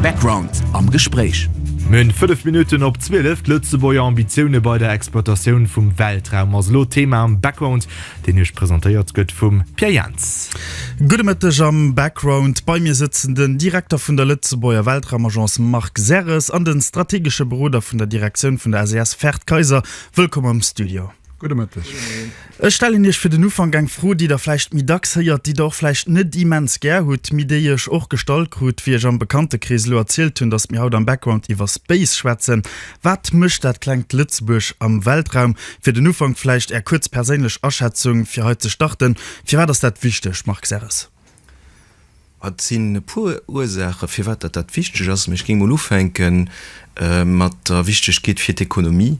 Background am Gespréich. Mün 5 Minutten op 12, D'Lëtzebuerger Ambitioune bei der Exploitatioun vum Weltraum ass elo Thema am Background, deen Iech presentéiert gëtt vum Pierre Jentz. Gudde Mëtteg am Background. Bei mir sëtzen den Direkter vun der Lëtzebuerger Weltraumagence Marc Serres an de strategesche Beroder vun der Direktioun vun der SES Ferd Kayser. Wëllkomm am Studio. Gudde Mëtteg. Ech stellen Iech fir den Ufank eng Fro, déi Der vläicht méi dacks héiert, déi Der och vläicht net immens gär hutt, mee déi ech och gestallt krut, wéi ech am Bekantekrees elo erzielt hunn, datt mir haut am Background iwwer Space schwätzen. Wat mécht dat klengt Lëtzebuerg am Weltraum? Fir den Ufank vläicht Är kuerz perséinlech Aschätzung, fir hei ze starten, Firwat ass dat wichteg, Marc Serres? Et sinn e puer Ursaachen, firwat dat dat wichteg ass, mä ech géing mol ufänke mat der Wichtegkeet fir d'Ekonomie.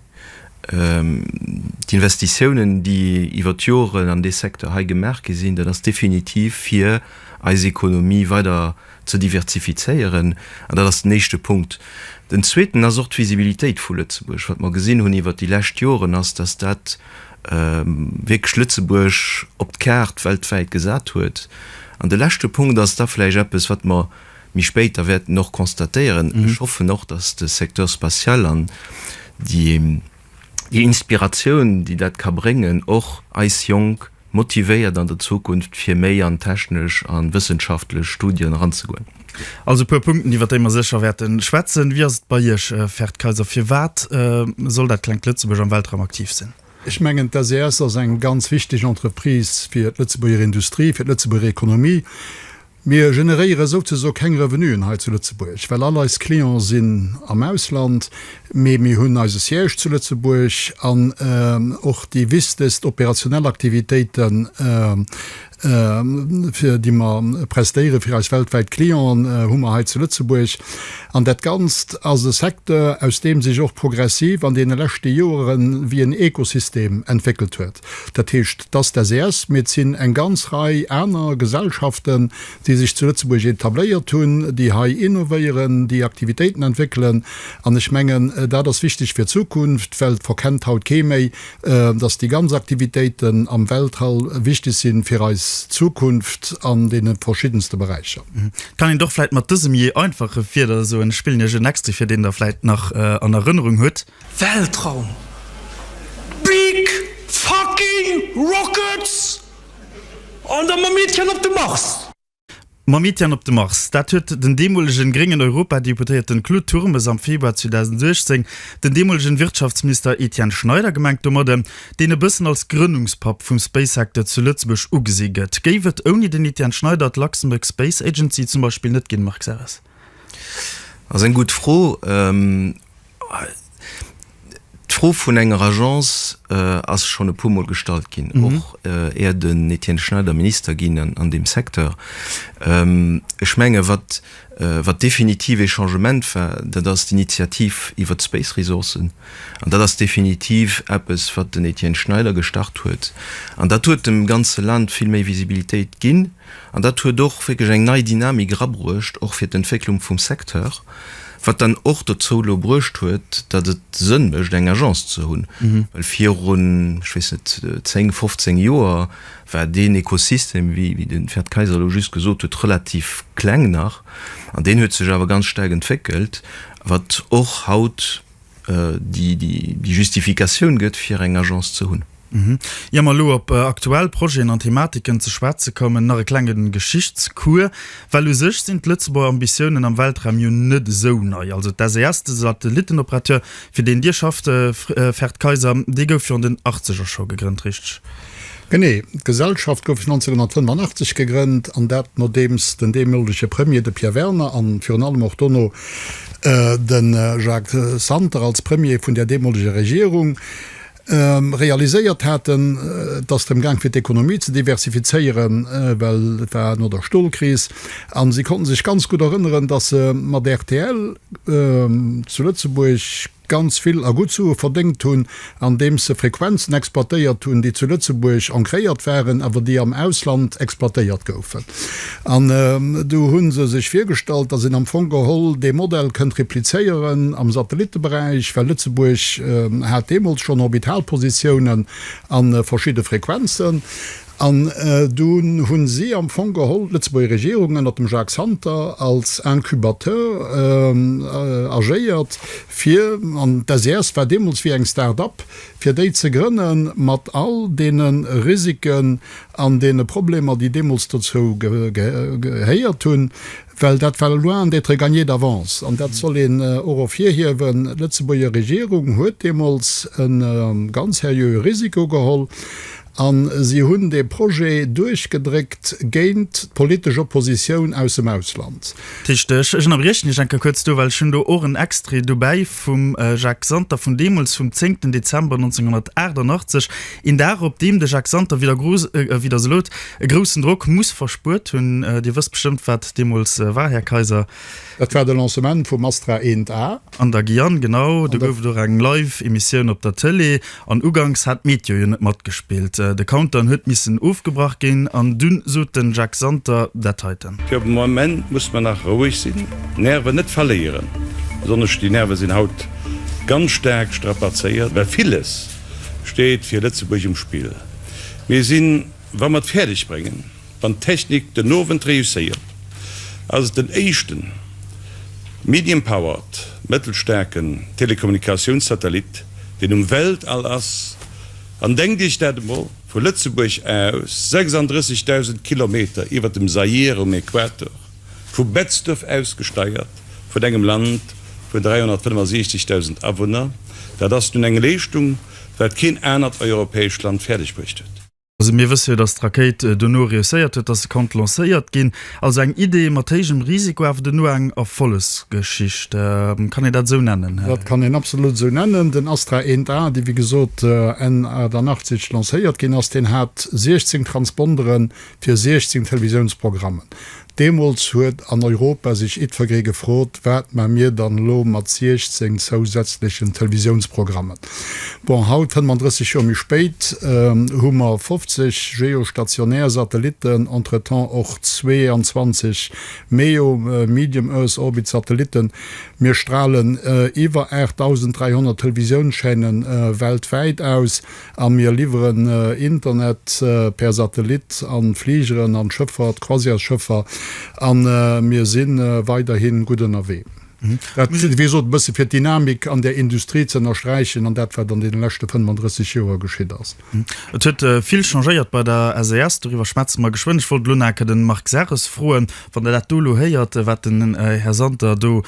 D'Investitiounen, déi iwwer d'Joren an dee Secteur hei gemaach gi sinn, dat ass definitiv, fir eis Economie weider ze diversifizéieren. An dat ass den éischte Punkt. Den zweeten ass och d'Visibilitéit vu Lëtzebuerg. Wat mer gesinn hunn iwwer déi lescht Joren ass, dass dat wierklech Lëtzebuerg op d'Kaart weltwäit gesat huet. An de leschte Punkt ass da vläicht eppes, wat mer méi spéider wäerten och constatéieren, Ech hoffen och, dass de Secteur spatial an déi Inspiratioun, déi dat ka bréngen, och eis Jonk motivéiert an der Zukunft, fir méi an technesch a wëssenschaftlech Studien eranzegoen. Also e puer Punkten, iwwert déi mer sécher wäerten schwätzen. Wéi ass et bei Iech, Ferd Kayser, firwat soll dat klengt Lëtzebuerg am Weltraum aktiv sinn? Ech mengen, d'SES ass eng ganz wichteg Entreprise fir d'Lëtzebuerger Industrie, fir d'Lëtzebuerger Economie. Mir generéiere souzeso keng Revenuen hei zu Lëtzebuerg, well all eis Client sinn am Ausland, mee mir hunn eise Siège zu Lëtzebuerg an och déi wistest operationell Aktivitéiten, fir déi mer prestéieren fir eis weltwäit Clienten, hu mer hei zu Lëtzebuerg. An dat Ganzt ass e Secteur, aus deem sech och progressiv an deene leschte Jore wéi en Ekosystem entwéckelt huet. Dat heescht, dass d'SES, mee et sinn eng ganz Rei aner Gesellschaften, déi sech zu Lëtzebuerg etabléiert hunn, déi hei innovéieren, déi Aktivitéiten entwéckelen. An ech mengen, dat ass wichteg fir d'Zukunft, well et verkennt haut kee méi, dass déi ganz Aktivitéiten am Weltall wichteg si fir eis Zukunft an deene verschiddenste Beräicher. Kann een dach vläit mat dësem jee einfache Wieder soen. Ech spillen iech en Extrait vir, deen der vläit nach an Erënnerung hutt. Weltraum, big fucking rockets an da mam Meedchen op de Mars! Mam Mitian op de Mars, dat huet den deemolegen gréngen Europadeputéierten Claude Turmes am Februar 2018 den deemolegen Wirtschaftsmister Etienne Schneider gemengt domadden, deen e bëssen als Grënnungspapp vum Space-Secteur zu Lëtzebuerg ugesi gëtt. Géif et ouni den Etienne Schneider d'Luxembourg Space Agency zum Beispill net ginn, Marc Serres? Ass eng gutt Fro. D'Fro vun enger Agence ass schonn e puermol gestallt ginn, och éier den Etienne Schneider Minister ginn an an deem Secteur. Ech menge wat wat definitiv ee Changement war, dat ass d'Initiativ iwwert d'Space Resourcen. An dat ass definitiv eppes wat den Etienne Schneider gestart huet. An dat huet dem ganze Land vill méi Visibilitéit ginn. An dat huet och wierklech eng nei Dynamik erabruecht, och fir d'Entwécklung vum Secteur, wat dann och dozou elo bruecht huet, datt et Sënn mécht, eng Agence ze hunn. Well virun, ech weess net, zéng, fofzéng Joer war deen Ekosystem, wéi de Ferd Kayser elo just gesot huet, relativ kleng nach. An deen huet sech awer ganz staark entwéckelt, wat och haut, déi déi Justifikatioun gëtt, fir eng Agence ze hunn. Ier mer elo op aktuell Projeten an Thematiken ze schwätze kommen, nach e klenge Geschichtscours, well u sech sinn d'Lëtzebuerger Ambitiounen am Weltraum jo net esou nei. Also d'SES, de Satellittenoperateur, fir deen Dir schafft, Ferd Kayser, dee gouf virun den Achtzeger scho gegrënnt, richteg? Genee, d'Gesellschaft gouf 1985 gegrënnt, an dat nodeems den deemolege Premier, de Pierre Werner, a virun allem och dono de Jacques Santer als Premier vun där deemoleger Regierung realiséiert haten, et ass drëm gaang fir d'Ekonomie ze diversifizéieren, well et war no der Stolkris, a si konnte sech ganz gutt erënneren, datt se mat rtl zu Lëtzebuerg, ganz vill a gutt Sue verdéngt hunn, andeems se Frequenzen exploitéiert hunn, déi zu Lëtzebuerg ancréiert waren, awer déi am Ausland exploitéiert goufen. An du hu se sech virgestallt, datt een am Fong geholl dee Modell kënnt replizéieren am Satellitteberäich, well Lëtzebuerg hat deemools schonn Orbitalpositiounen a verschidde Frequenzen. An dunn hu si am Fong geholl d'Lëtzebuerger Regierung ënnert dem Jacques Santer als Incubateur agéiert, fir, an d'SES war deemools wéi eng Start-up, fir déi ze grënnen, mat all deene Risiken an deene Problemer, déi deemools dozou gehéiert hunn, well dat war loin d'être gagné d'avance. An dat soll een och ervirhiewen, d'Lëtzebuerger Regierung huet deemools e ganz seriöe Risiko geholl. A si hunn dee Projet duerchgedréckt géint d'politesch Oppositioun aus dem Ausland. Richteg. Ech ënnerbriechen Iech eng Kéier kuerz do, well ech hunn do och en Extrait dobäi vum Jacques Santer vun deemools, vum zéngten Dezember 1988, een Dag, op deem de Jacques Santer widder gro, wéi Der se lot, e groussen Drock muss verspuert hunn. Dir wësst bestëmmt, wat deemools war, Här Kaiser. Dat war de Lancement vum Astra eent A. An der Guyane, genau. Do gouf et och eng Live-Emissioun op der Tëlee. An uganks hat d'Meteo jo net matgespillt. De Countdown huet missen ofgebrach ginn. An dunn sot den Jacques Santer dat heiten. Fir de Moment muss mer nach roueg sinn, d'Nerven net verléieren. Besonnesch déi Nerve sinn haut ganz staark strapazéiert, well villes steet fir Lëtzebuerg um Spill. Mir sinn, wa mer et fäerdeg bréngen, Wann d'Technik den Owend reusséiert, ass et den éischte medium-powered, mëttelstaarke, Telekommunikatiounssatellit, deen um Weltall ass. An denkt Iech dat emol! Vu Lëtzebuerg aus, 36.000 Kilometer iwwer dem Zaïre um Equator, vu Betzdorf aus gesteiert, vun engem Land vun 365.000 Awunner, dat ass nun eng Leeschtung, wat keen anert europäescht Land fäerdegbruecht huet. Also mir wësse jo, datt d'Rakéit dono reusséiert huet, datt se konnt lancéiert ginn. Also eng Idee mat héijem Risiko, awer dono eng Erfollegsgeschicht. Kann een dat esou nennen? Dat kann een absolut esou nennen. Den Astra 1A, dee wéi gesot Enn 88 lancéiert ginn ass, deen hat 16 Transponderen fir 16 Televisiounsprogrammen. Deemols huet an Europa sech itvergree gefrot, wat man mir dann elo mat 16 zousätzlechen Televisiounsprogrammen? Bon, haut, 35 Joer méi spéit, hu mer 50 geostationär Satellitten, entretemps och 22 MEO, Medium Earth Orbit, Satellitten. Mir stralen iwwer 8.300 Televisiounschaînen weltwäit aus. A mir liwweren Internet per Satellit an d'Fligeren, an d'Schëffer, d'Croisièresschëffer, an mir si weiderhin gutt ënnerwee. Dat wéi gesot e bësse fir d'Dynamik an där Industrie ze ënnersträichen an dat wat an deene leschte 35 Joer geschitt ass. Et huet vill changéiert bei der SAS, doriwwer schwätze mer geschwënn. Ech wollt elo nach e Kéier de Marc Serres froen, wann Der dat do elo héiert, wat den Här Santer do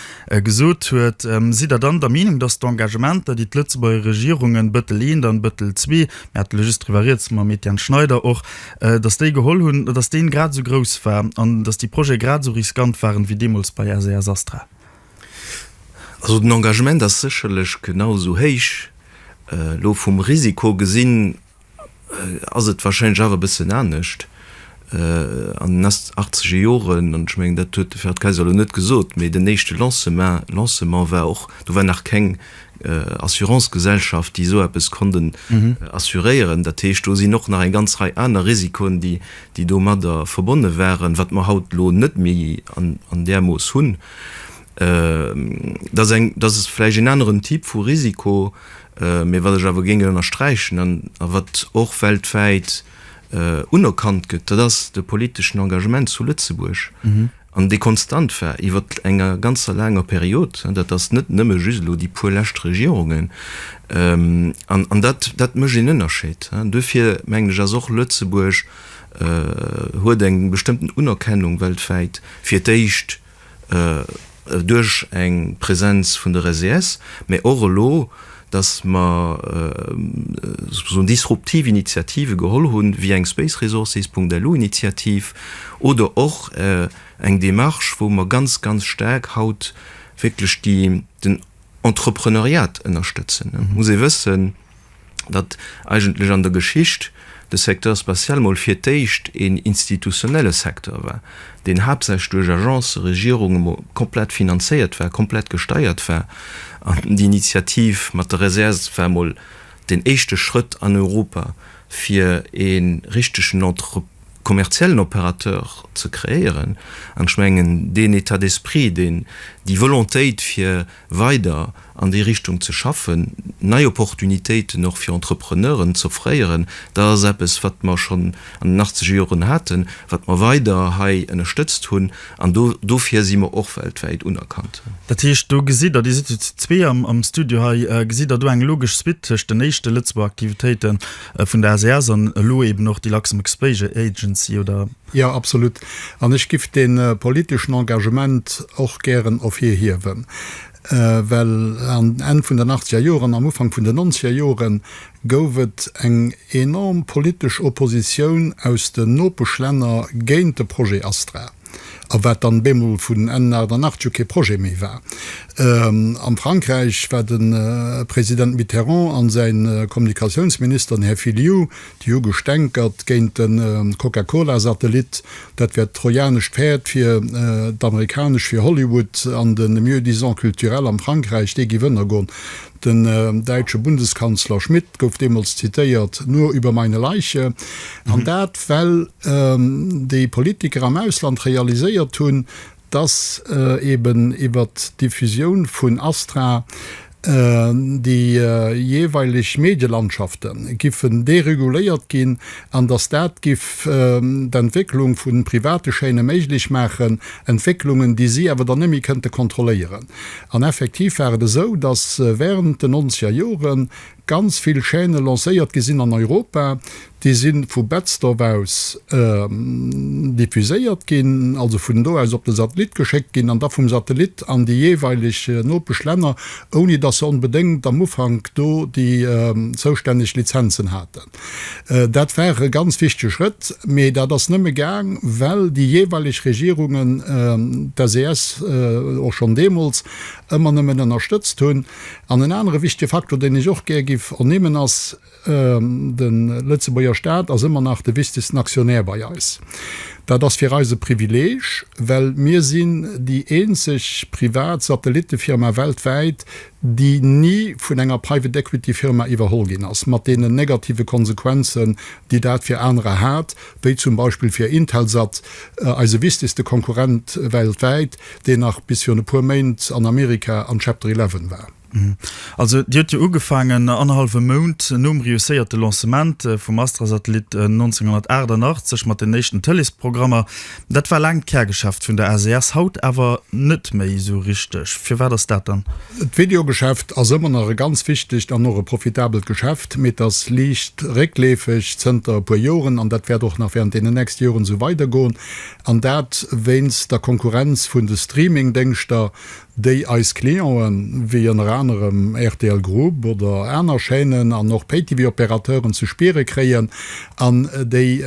Gesot huet. Sidd Der dann der Meenung, datt d'Engagementer, déi d'Lëtzebuerger Regierungen, Bëttel I an Bëttel ii, mir hate just driwwer rieds mam Etienne Schneider och, datt déi geholl hunn, datt deen grad esou grouss war an datt déi Projete grad esou riskant waren wéi deemools bei SAS Astra? Also den Engagement ass sécherlech genau esou héich, elo vum Risiko gesinn, ass et wahrscheinlech awer e bëssen anescht an den achtzeger Joren. An ech mengen, dat huet de Ferhat Kaiser elo net gesot, mee den éischte Lancement, Lancement war och, do war nach keng Assurancegesellschaft, déi esou eppes konnt assuréieren. Dat heescht, do sinn och nach eng ganz Rei aner Risikoen, déi domadder verbonne waren, wat mer haut elo net méi an där Mooss hunn. Dat ass eng, dat ass vläicht een aneren Typ vu Risiko, mä wat ech awer géing ënnersträichen an a wat och weltwäit unerkannt gëtt, dat ass de politeschen Engagement zu Lëtzebuerg an dee konstant war iwwer enger ganzer laanger Period. Dat ass net nëmme just elo déi puer lescht Regierungen an an dat, dat mécht een Ënnerscheed. Duerfir mengen ech, ass och Lëtzebuerg, huet eng bestëmmten Unerkennung weltwäit fir d'éischt. duerch eng Präsenz vun der SES, mä och elo, datt mer sougusoen disruptiv Initiative geholl hunn, wéi eng Spaceresources.lu Initiativ oder och eng Démarche, wou mer ganz, ganz staark haut wierklech den Entrepreneuriat ënnerstëtzen. Et muss ee wëssen. datt eigentlech an der Geschicht de Secteur spatial mol fir d'éischt een institutionelle Secteur war, deen haaptsächlech duerch Agencë, Regierunge mol komplett finanzéiert war, komplett gesteiert war. An d'Initiativ mat der Reserve war mol den éischte Schrëtt an Europa, fir e richtegen entre, kommerziellen Opérateur ze kreéieren. An ech mengen, deen État d'esprit, deen, déi Volontéit, fir weider an déi Richtung ze schaffen, nei Opportunitéiten och fir Entrepreneuren z'offréieren, dat ass eppes, wat mer schonn an den achtzege Joren haten, wat mer weider hei ënnerstëtzt hunn an do dofir si mer och weltwäit unerkannt. Dat heescht, do gesitt Der, Dir sidd jo zu zwee am Studio hei, gesitt Der do eng logesch Suite tëscht den éischte Lëtzebuerger Aktivitéiten, Vun der SAS an elo eben och déi Luxembourg Space Agency, oder? Jo, absolut. An ech giff dee politeschen Engagement och gären ervirhiewen, well am Enn vun den achtzeger Joren, am Ufank vun den nonzeger Jore gouf et eng enorm politesch Oppositioun aus den Nopeschlänner géint de Projet Astra. a wat dann bemol vun Enn 1988 jo kee Projet méi war. Am Frankräich war de President Mitterrand an säin Kommunikatiounsminister, den Här Filiou, déi hu gestänkert géint de Coca-Cola-Satellit, dat wär d'trojanescht Päerd fir d'Amerikanesch, fir Hollywood an de Mieux-disant culturel am Frankräich, dee géif ënnergoen. Den däitsche Bundeskanzler Schmidt gouf deemools zitéiert, Nur über meine Leiche. An dat, well déi Politiker am Ausland realiséiert hunn, dass eben iwwert d'Diffusioun vun Astra déi jeeweileg Medielandschafte giffen dereguléiert ginn an dass dat giff d'Entwécklung vu private Chaîne méiglech maachen, Entwécklungen, déi si awer dann net méi kënnte kontrolléieren. An effektiv war et esou, datt während den nonzeger Jore ganz vill Chaîne lancéiert gi sinn an Europa. Déi si vu Betzdorf aus diffuséiert ginn, also vun do aus op de Satellit geschéckt ginn an da vum Satellit an déi jeeweileg Nopeschlänner, ouni datt se onbedéngt am Ufank do déi zoustänneg Lizenzen haten. Dat war e ganz wichtege Schrëtt, mee dat ass nëmme gaang, well déi jeeweileg Regierungen d'SES och schonn deemools ëmmer nëmmen ënnerstëtzt hunn. An en anere wichtege Faktor, deen ech och gär giff ernimmen, ass, De Lëtzebuerger Staat ass ëmmer nach de wichtegsten Aktionär bei eis. Dat ass fir eis e Privileeg, well mir sinn déi eenzeg privat Satellittefirma weltwäit, déi ni vun enger Private Equity Firma iwwerholl ginn ass, mat deenen negative Konsequenzen, déi dat fir anerer hat, wéi zum Beispill fir Intelsat, eise wichtegste Konkurrent weltwäit, deen nach bis virun e puer Méint an Amerika an Chapter 11 war. Also Dir hutt jo ugefaangen, annerhallwe Mount nom reusséierte Lancement vum Astra-Satellit 1988, mat den éischten Tëleesprogrammer. Dat war laang d'Kärgeschäft vun der ACS, haut awer net méi esou richteg. Firwat ass dat dann? D'Videogeschäft ass ëmmer nach e ganz wichtegt an och e profitabelt Geschäft, mee et ass liicht réckleefeg zënter e puer Joren an dat wäert och nach während deenen nächste Joren esou weidergoen. An dat wéinst der Konkurrenz vun de Streamingdéngschter, déi eis Clienten, wéi ënner anerem rtl Group oder aner Chaînen an och Pay-TV-Opérateuren, ze spiere kréien an déi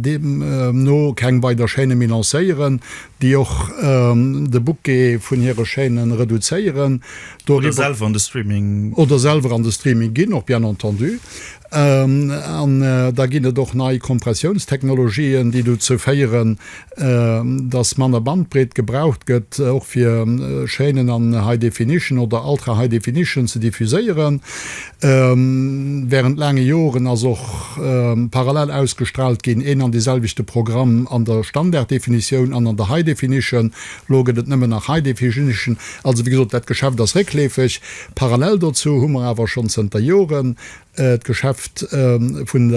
deemno keng weider Chaîne méi lancéieren, déi och de Bouquet vun hire Chaîne reduzéieren. Oder selwer an de Streaming ginn, och bien entendu. An da ginn et och nei Kompressiounstechnologien, déi dozou féieren, dass manner Bandbreet gebraucht gëtt, och fir Chaînen an High Definition oder Ultra High Definition ze diffuséieren. Wärend laange Joren ass och parallel ausgestraalt ginn, een an deeselwechte Programm an der Standarddefinitioun an an der High Definition. Elo gëtt et nëmmen nach High Definition. Also, wéi gesot, dat Geschäft ass réckleefeg. Parallel dozou hu mer awer schonn zënter Joren, d'Geschäft vun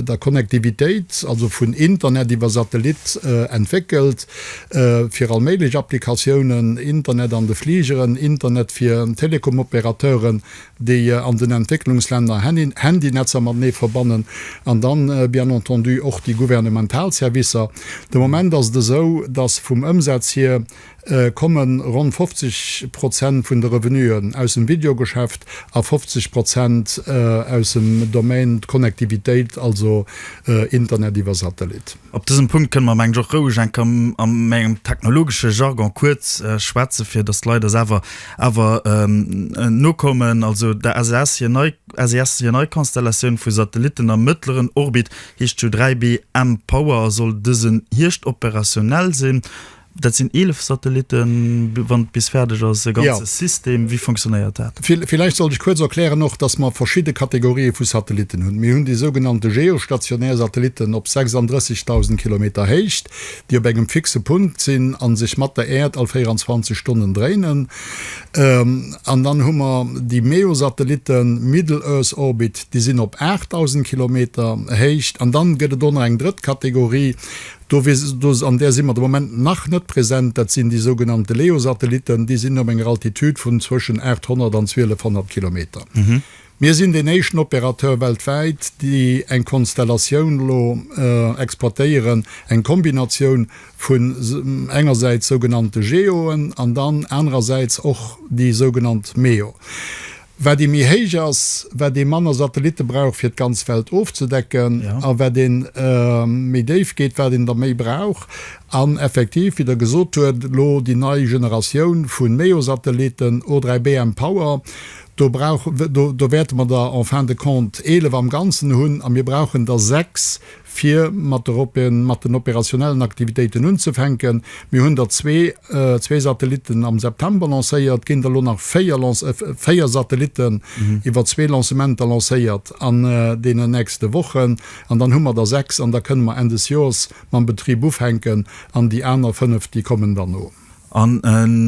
der Connectivitéit, also vun Internet iwwer Satellit, entwéckelt fir all méiglech Applikatiounen, Internet an de Fligeren, Internet fir Telekomopérateuren, déi an den Entwécklungslänner Handynetzer matenee verbannen, an dann bien entendu och déi gouvernemental Servicer. De Moment ass et esou, dass vum Ëmsaz hier komme ronn 50 Prozent vun de Revenuen aus dem Videogeschäft a 50 Prozent aus dem Domaine d'Connectivitéit, also Internet iwwer Satellit. Op dësem Punkt kënne mer, mengen ech, och roueg eng Kéier a mengem technologesche Jargon kuerz schwätzen, fir datt d'Leit eis awer awer nokommen. Also der SES hir nei SES hir nei Konstellatioun vu Satellitten am mëttleren Orbit heescht jo 3B mPower a soll dësen Hierscht operationell sinn. Dat sinn 11 Satellitten, wann et bis fäerdeg ass, e ganze System. Ja. Wéi funktionéiert dat? Villäicht sollt ech kuerz erklären och, dass mer verschidde Kategorië vu Satellitten hunn. Mir hunn déi sougenannte geostationär Satellitten op 36.000 Kilometer Héicht, déi op engem fixe Punkt sinn a sech mat der Äerd all 24 Stonnen dréinen. An dann hu mer déi MEO-Satellitten, middle earth orbit, déi sinn op 8.000 Kilometer Héicht. An dann gëtt et och nach eng drëtt Kategorie, Do wier, do, an där si mer de Moment nach net present, dat sinn déi sougenannte LEO-Satellitten, déi sinn op enger Altitude vun zwëschen 800 an 1200 Kilometer. Mir sinn deen éischten Opérateur weltwäit, déi eng Konstellatioun elo exploitéieren, eng Kombinatioun vun engersäits sougenannte GEOen an dann anerersäits och déi sougenannt MEO. Wat ee méi héich ass, wat ee manner Satellitte brauch fir d'ganz Welt ofzedecken, a wat een méi déif geet, wat een der méi brauch. An effektiv, wéi Der gesot huet, elo déi nei Generatioun vu MEO-Satellitten, O3b mPOWER, do brauch, do wäerte mer der en fin de compte 11 am Ganzen hunn, a mir brauchen der 6 fir mat den operationellen Aktivitéiten unzefänken. Mir hunn der zwee, zwee Satellitten am September lancéiert, ginn der elo nach véier Lanc, véier Satellitten iwwer zwee Lancementer lancéiert an deenen nächste Wochen. An dann hu mer der sechs an da kënne mer Enn des Joers mam Betrib ufänken an déi aner fënnef, déi kommen dann no. An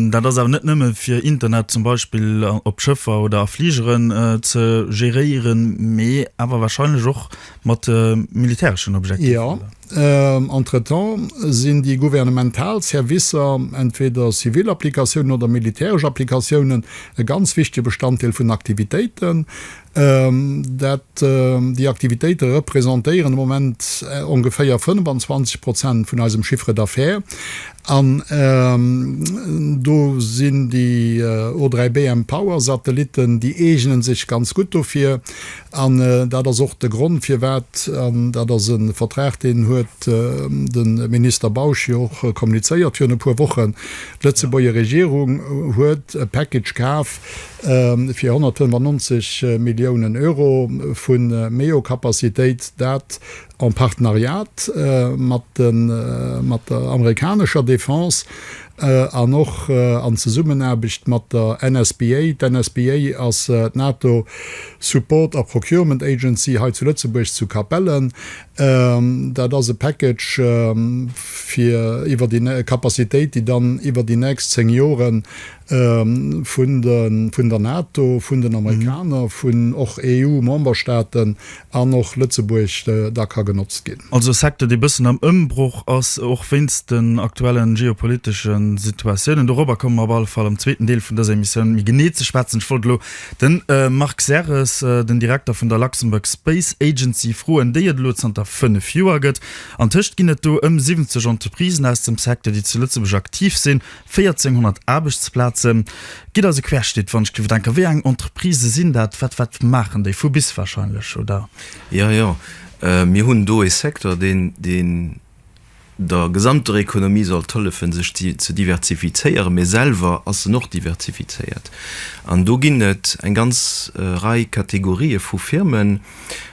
dat ass awer net nëmme fir Internet zum Beispill op Schëffer oder a Fligeren ze geréieren, mee awer warscheinlech och mat militäreschen Objektiver? Jo. Entretemps sinn déi gouvernemental Servicer, entweder zivil Applikatiounen oder militäresch Applikatiounen, e ganz wichtege Bestanddeel vun Aktivitéiten. dat déi Aktivitéite representéieren de Moment ongeféier 25 Prozent vun eisem Chiffre d'affaires, an do sinn déi O3BM Power-Satellitten, déi eegene sech ganz gutt dofir, an dat ass och de Grond firwat, an dat ass e Vertrag, deen huet de Minister Bausch jo och kommunizéiert virun e puer Wochen, d'Lëtzebuerger Regierung huet e Package kaf, fir 195 Milliounen Euro vu méi o Capacitéit, dat en Partenariat mat der amerikanescher Defense an och an Zesummenaarbecht mat der NSBA. D'NSBA ass d'NATO Support a Procurement Agency hei zu Lëtzebuerg zu Capellen. Dat ass e Package fir iwwer déi Capacitéit, déi dann iwwer déi nächst zéng Joren vun der NATO, vun den Amerikaner, vun och EU-Memberstaaten an och Lëtzebuerg da ka genotzt ginn. Also e Secteur, dee bëssen am Ëmbroch ass, och wéinst den aktuellen geopolitesche Situatiounen. Dorobber komme mer op alle Fall am zweeten Deel vun dëser Emissioun méi genee ze schwätzen. Ech wollt elo de Marc Serres, den Direkter vun der Luxembourg Space Agency, froen, déi et elo zanter fënnef Joer gëtt. Antëscht ginn et do ëm 70 Entreprisen aus dem Secteur, déi zu Lëtzebuerg aktiv sinn. 1.400 Aarbechtsplaze gitt also querschnitt, wann ech dierf denken. Wéi eng Entreprisë sinn dat? Wat wat maachen déi? Vu bis wahrscheinlech, oder? Jo, jo. Mir hunn do ee Secteur, deen deen der gesamter Economie sollt hëllefen, sech ze diversifizéieren, mä selwer ass en och diversifizéiert. An do ginn et eng ganz Rei Kategorië vu Firmen.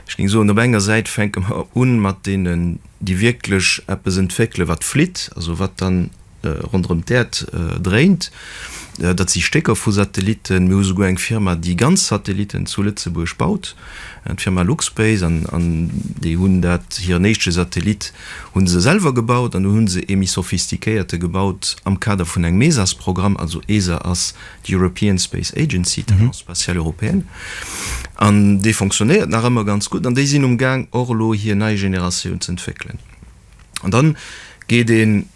Ech géing soen, op enger Säit fänke mer u mat deenen, déi wierklech eppes entwéckelen, wat flitt, also wat dann, ronderëm d'Äerd dréint. Dat si Stécker vu Satellitten. Mir hu souguer eng Firma, déi ganz Satellitten zu Lëtzebuerg baut, d'Firma Luxpace. An déi hunn dat, hiren éischte Satellit hu se selwer gebaut an dunn hu se ee méi sophistiquéierte gebaut am Kader vun engem ESAS-Programm. Also ESA ass d'European Space Agency, d'Agence spatiale européenne. An dee fonctionnéiert nach ëmmer ganz gutt an déi sinn um Gaang och elo hir nei Generatioun z'entwéckelen. An dann geet een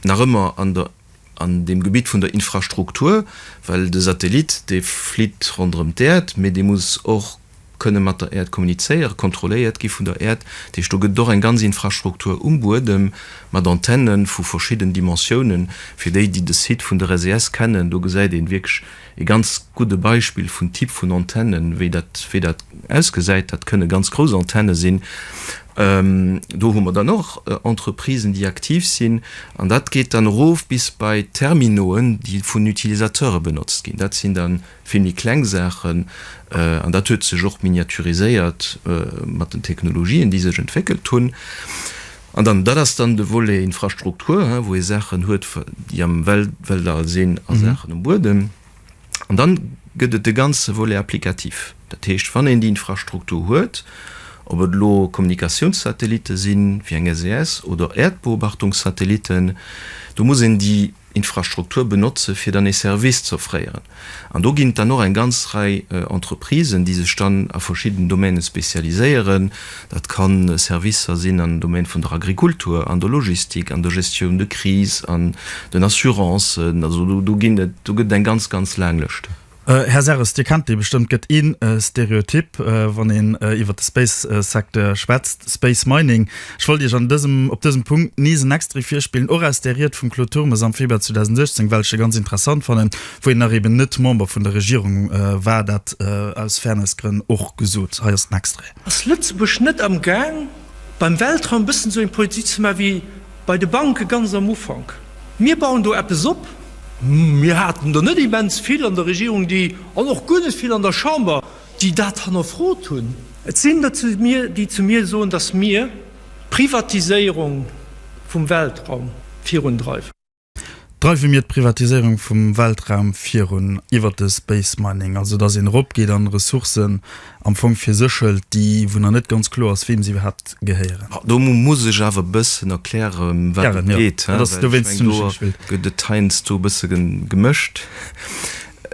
nach ëmmer an dem Gebitt vun der Infrastruktur, well de Satellit dee flitt ronderëm d'Äerd, mee dee muss och kënne mat der Äerd kommunizéieren, kontrolléiert gi vun der Äerd. Dat heescht, do gëtt et och eng ganz Infrastruktur um Buedem mat Antennen vu verschidden Dimensiounen. Fir déi, déi de Site vun der SES kennen, do gesäit ee wierklech, E ganz gudde Beispill vun Typ vun Antennen, wéi dat, wéi dat ausgesäit, dat kënne ganz grouss Antenne sinn. Do hu mer dann och Entreprisen, déi aktiv sinn. An dat geet dann erof bis bei Terminauxen, déi vun Utilisateure benotzt ginn. Dat sinn da vill méi kleng Saachen. An dat huet sech och miniaturiséiert mat den Technologien, déi sech entwéckelt hunn. An dann, dat ass dann de Volet Infrastruktur, wou ee Saachen huet, déi am Weltall sinn a Saachen um Buedem. An dann gëtt et de ganze Volet applicatif. Dat heescht, wann een déi Infrastruktur huet, ob et elo Kommunikatiounssatellitte sinn, wéi eng SES, oder Äerdbeobachtungssatellitten, do muss een déi. Infrastruktur benotze fir dann ee Service z'offréieren. An do ginn et dann och eng ganz Rei Entreprisen, déi sech dann a verschidden Domaine spezialiséieren. Dat ka Servicer sinn am Domaine vun der Agrikultur, an der Logistik, an der Gestion de crise, an den Assurancen, also do ginn et, do gëtt et eng ganz, ganz laang Lëscht. Här Serres, Dir kennt dee bestëmmt. Gëtt ee Stereotyp, wann een iwwert de Space-Secteur schwätzt, Space Mining. Ech wollt Iech an dësem, op dësem Punkt nees en Extrait virspillen, och aus där Ried vum Claude Turmes am Februar 2016, well ech se ganz interessant fannen, wou hien nach eben net Member vun der Regierung war, dat aus Fairness-Grënn och gesot. Hei ass den Extrait. Ass Lëtzebuerg net amgaang, beim Weltraum e bëssen esou eng Politik ze maachen, wéi Bei de Banke ganz am Ufank, Mir bauen do eppes op. Mir haten der net immens vill an der Regierung, déi, an och guer net vill an der Chamber, déi dat hannerfrot hunn. Et sinn der, déi zu mir soen, datt mir d'Privatiséierung vum Weltraum virundreiwen. Dreiwe mir d'Privatiséierung vum Weltraum virun, iwwert de Space Mining, also datt een eropgeet an Ressourcen am Fong fir sech hëlt, déi, wou nach net ganz kloer ass, weem se iwwerhaapt gehéieren? Do muss ech awer e bëssen erkläre wou et geet, well ech meng do gëtt et heiansdo e bësse gemëscht.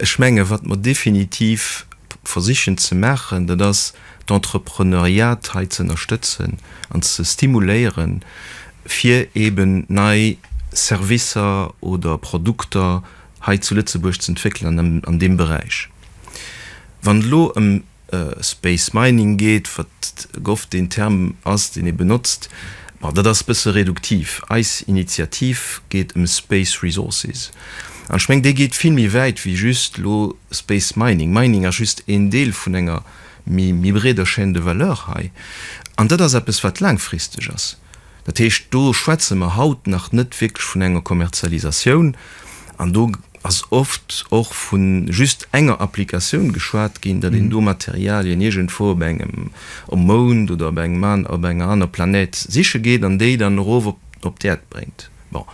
Ech menge wat mer definitiv versichen ze maachen, dat ass, d'Entrepreneuriat hei ze ënnerstëtzen an ze stimuléieren, fir eeben nei Servicer oder Produkter hei zu Lëtzebuerg z'entwéckelen an deem Beräich. Wann et elo ëm Space Mining geet, wat gouf deen Term ass, deen ee benotzt, ma dat ass e bësse reduktiv. Eis Initiativ geet ëm Space Resources. An ech mengen, déi geet vill méi wäit wéi just elo Space Mining. Mining ass just een Deel vun enger. méi méi breeder Chaîne de valeur hei. An dat ass eppes, wat laangfristeg ass. Dat heescht, do schwätze mer haut nach net wierklech vun enger Kommerzialisatioun. An do ass oft och vu just enger Applikatioun geschwat ginn, datt een do Materialien iergendwou op engem um Mound oder op engem an op enger aner Planète siche geet an déi dann erof op op d'Äerd bréngt. Bon,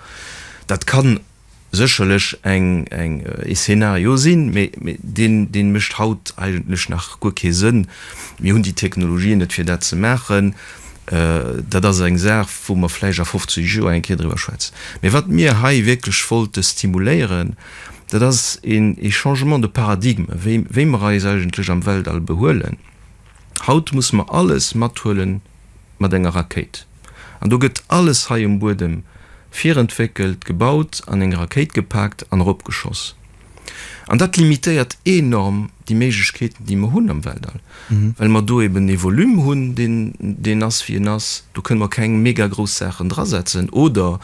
dat kann. sécherlech eng eng ee Szenario sinn, mee mee deen deen mécht haut eigentlech nach guer kee Sënn. Mir hunn déi Technologien net fir dat ze maachen. Dat ass eng Saach wou mer vläicht a 50 Joer eng Kéier driwwer schwätzen. Mee wat mir hei wierklech wollte stimuléieren, dat ass een ee Changement de paradigme wéi wéi mer eis eigentlech am Weltall behuelen. Haut musse mer alles mathuelen mat enger Rakéit. An do gëtt alles hei um Buedem virentwéckelt, gebaut, an eng Rakéit gepaakt an eropgeschoss. An dat limitéiert enorm déi Méiglechkeeten, déi mer hunn am Weltall, well mer do eben ee Volume hunn, deen ass, wéi en ass. Do kënne mer keng mega grouss Saachen drasetzen oder.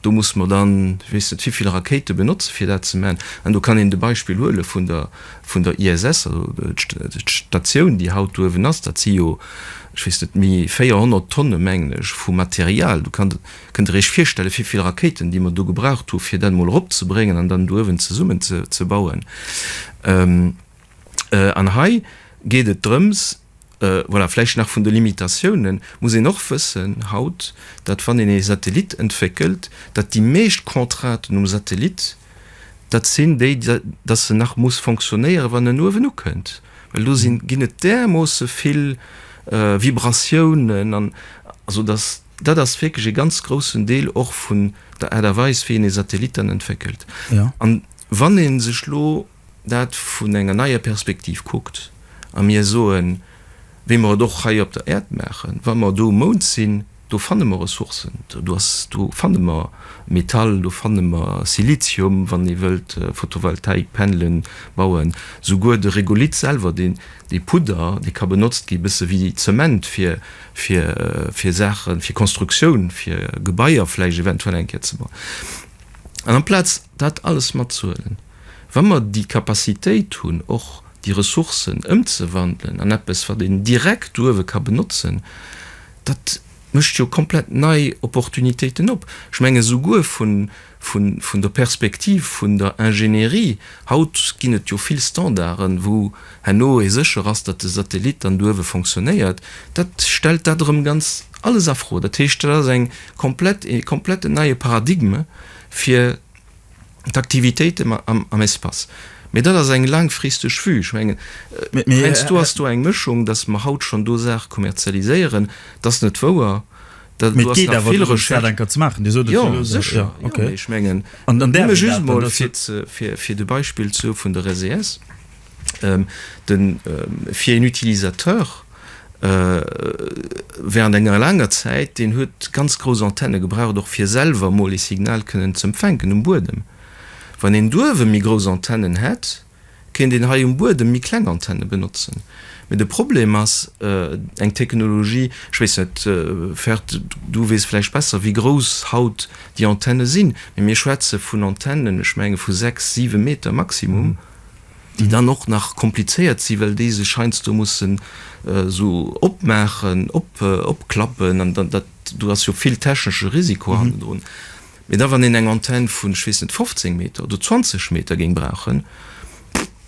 Do muss mer dann, ech weess net, vivill Rakéite benotzen, fir dat ze maachen. An do kann een de Beispill huele vun der, vun der ISS, also d'Statioun, déi haut do uewen ass. Dat si jo, ech weess net, méi 400 Tonne, mengen ech, vu Material. Do kann, kënnt Der Iech virstellen, vivill Rakéiten, déi mer do gebraucht hu fir dat emol eropzebréngen an dann do uewen zesummenzebauen. An hei geet et drëms, Voilà, vläicht nach vun de Limitatiounen muss een och wëssen haut, datt wann een ee Satellit entwéckelt, datt déi meescht Contrainten um Satellit, datt sinn déi, datt en nach muss fonctionnéieren, wann en uewen ukënnt, well do si ginn et därmoosse vill Vibratiounen an. Also datt dat ass wierklech ee ganz groussen Deel och vun der Aart a Weis, wéi een ee Satellit dann entwéckelt. An wann ee sech elo dat vun enger neier Perspektiv kuckt a mir soen, wéi mer et och hei op der Äerd maachen, wa mer do um Mound sinn, do fanne mer Ressourcen, do fanne mer Metall, do fanne mer Silizium, wann ee wëllt Photovoltaik-Panelen bauen, souguer de Regolith selwer, dee Pudder, dee ka benotzt gi bësse wéi Zement fir Saachen, fir Konstruktioun, fir Gebaier vläicht eventuell eng Kéier ze bauen. An amplaz dat alles matzehuelen. wa mer déi Capacitéit hunn, och déi Ressourcen ëmzewandelen an eppes, wat een direkt do uewe ka benotzen, dat mécht jo komplett nei Opportunitéiten op. Ech menge souguer vun der Perspektiv vun der Ingénierie, haut ginn et jo vill Standarden, wou herno ee sécher ass, datt de Satellit dann do uewe fonctionnéiert, dat stellt dat erëm ganz alles a Fro. Dat heescht, dat ass e kompletten neie Paradigme fir d'Aktivitéiten am Espace. Mee dat ass eng laangfristeg Vue. Ech mengen, heiansdo ass do eng Mëschung, dass mer haut schonn do Saache kommerzialiséieren. Dat ass net wouer. Do ass nach vill Recherche. Mee et geet awer drëms, dat enker ze maachen. Dir sot et jo elo selwer. Jo, sécher. Jo, mee ech mengen, nëmme just emol, fir de Beispill vun der SES. den fir een Utilisateur während enger laanger Zäit, deen huet ganz grouss Antenne gebraucht och fir selwer emol ee Signal kënnen z'empfänken um Buedem. Wann een d'uewe méi grouss Antennen hätt, kéint een hei um Buedem méi kleng Antenne benotzen. Mee de Problem ass eng Technologie, ech weess net Ferd, du weess vläicht besser wéi grouss haut déi Antenne sinn, mee mir schwätze vun Antennen, ech menge vu 6, 7 Meter Maximum. déi dann och nach komplizéiert sinn, well déi sech heiansdo mussen esou opmaachen, opklappen an dat do ass jo vill technesche Risiko hannendrun. Mee da wann een eng Antenn vun, ech weess net, 15 Meter oder 20 Meter géing brauchen,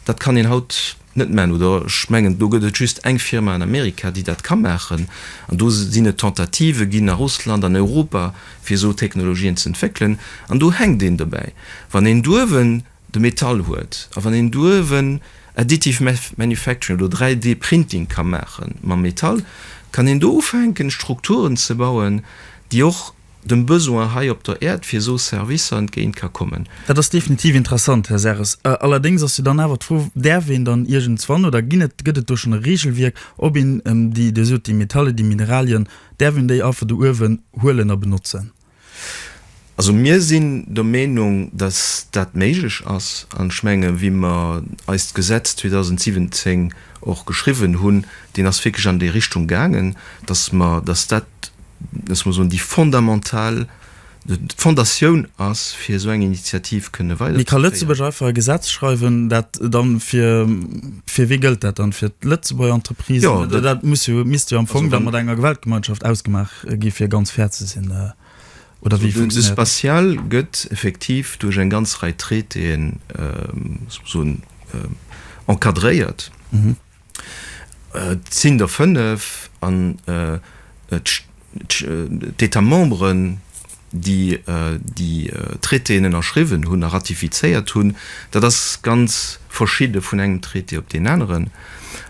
dat kann een haut net maachen. Oder ech mengen, do gëtt et just eng Firma an Amerika, déi dat ka maachen. An do sinn et Tentative ginn a Russland, an Europa, fir esou Technologien ze entwéckelen. An do hänkt een dobäi. Wann een duerwen de Metall huet a wann een duerwen Additive Manufacturing oder 3D Printing ka maache mam Metall, kann een do ufänken Strukturen ze bauen, déi och dem Besoin hei op der Äerd fir esou Servicer entgéint ka kommen. Dat ass definitiv interessant, Här Serres. Allerdéngs ass jo dann awer d'Fro, Däerf een dann iergendswann, oder ginn et, gëtt et do schonn e Reegelwierk, ob een déi, Dir sot déi Metalle, déi Mineralien, däerf een déi einfach do uewen huelen a benotzen? Also mir sinn der Meenung, dass dat méiglech ass. An ech menge wéi mer eist Gesetz 2017 och geschriwwen hunn, deen ass wierklech an déi Richtung gaangen, dass mer, dass dat, loosse mer soen, déi fondamental, d'Fondatioun ass, fir esou eng Initiativ kënne weiderzeféieren. Mee ka Lëtzebuerg einfach e Gesetz schreiwen, dat dann fir, fir wie gëllt dat dann? Fir d'Lëtzebuerger Entreprisen? Dat misst jo am Fong dann mat enger Gewerkschaftsgemeinschaft ausgemaach. gi fir ganz fair ze sinn, oder wéi funktionéiert dat? De Spatial gëtt effektiv duerch eng ganz Rei Traitéen, ech muss soen, encadréiert. Et sinn der fënnef an d'États-memberen, déi déi Traitéen ënnerschriwwen hunn a ratifizéiert hunn, dat ass ganz verschidde vun engem Traité op deen aneren.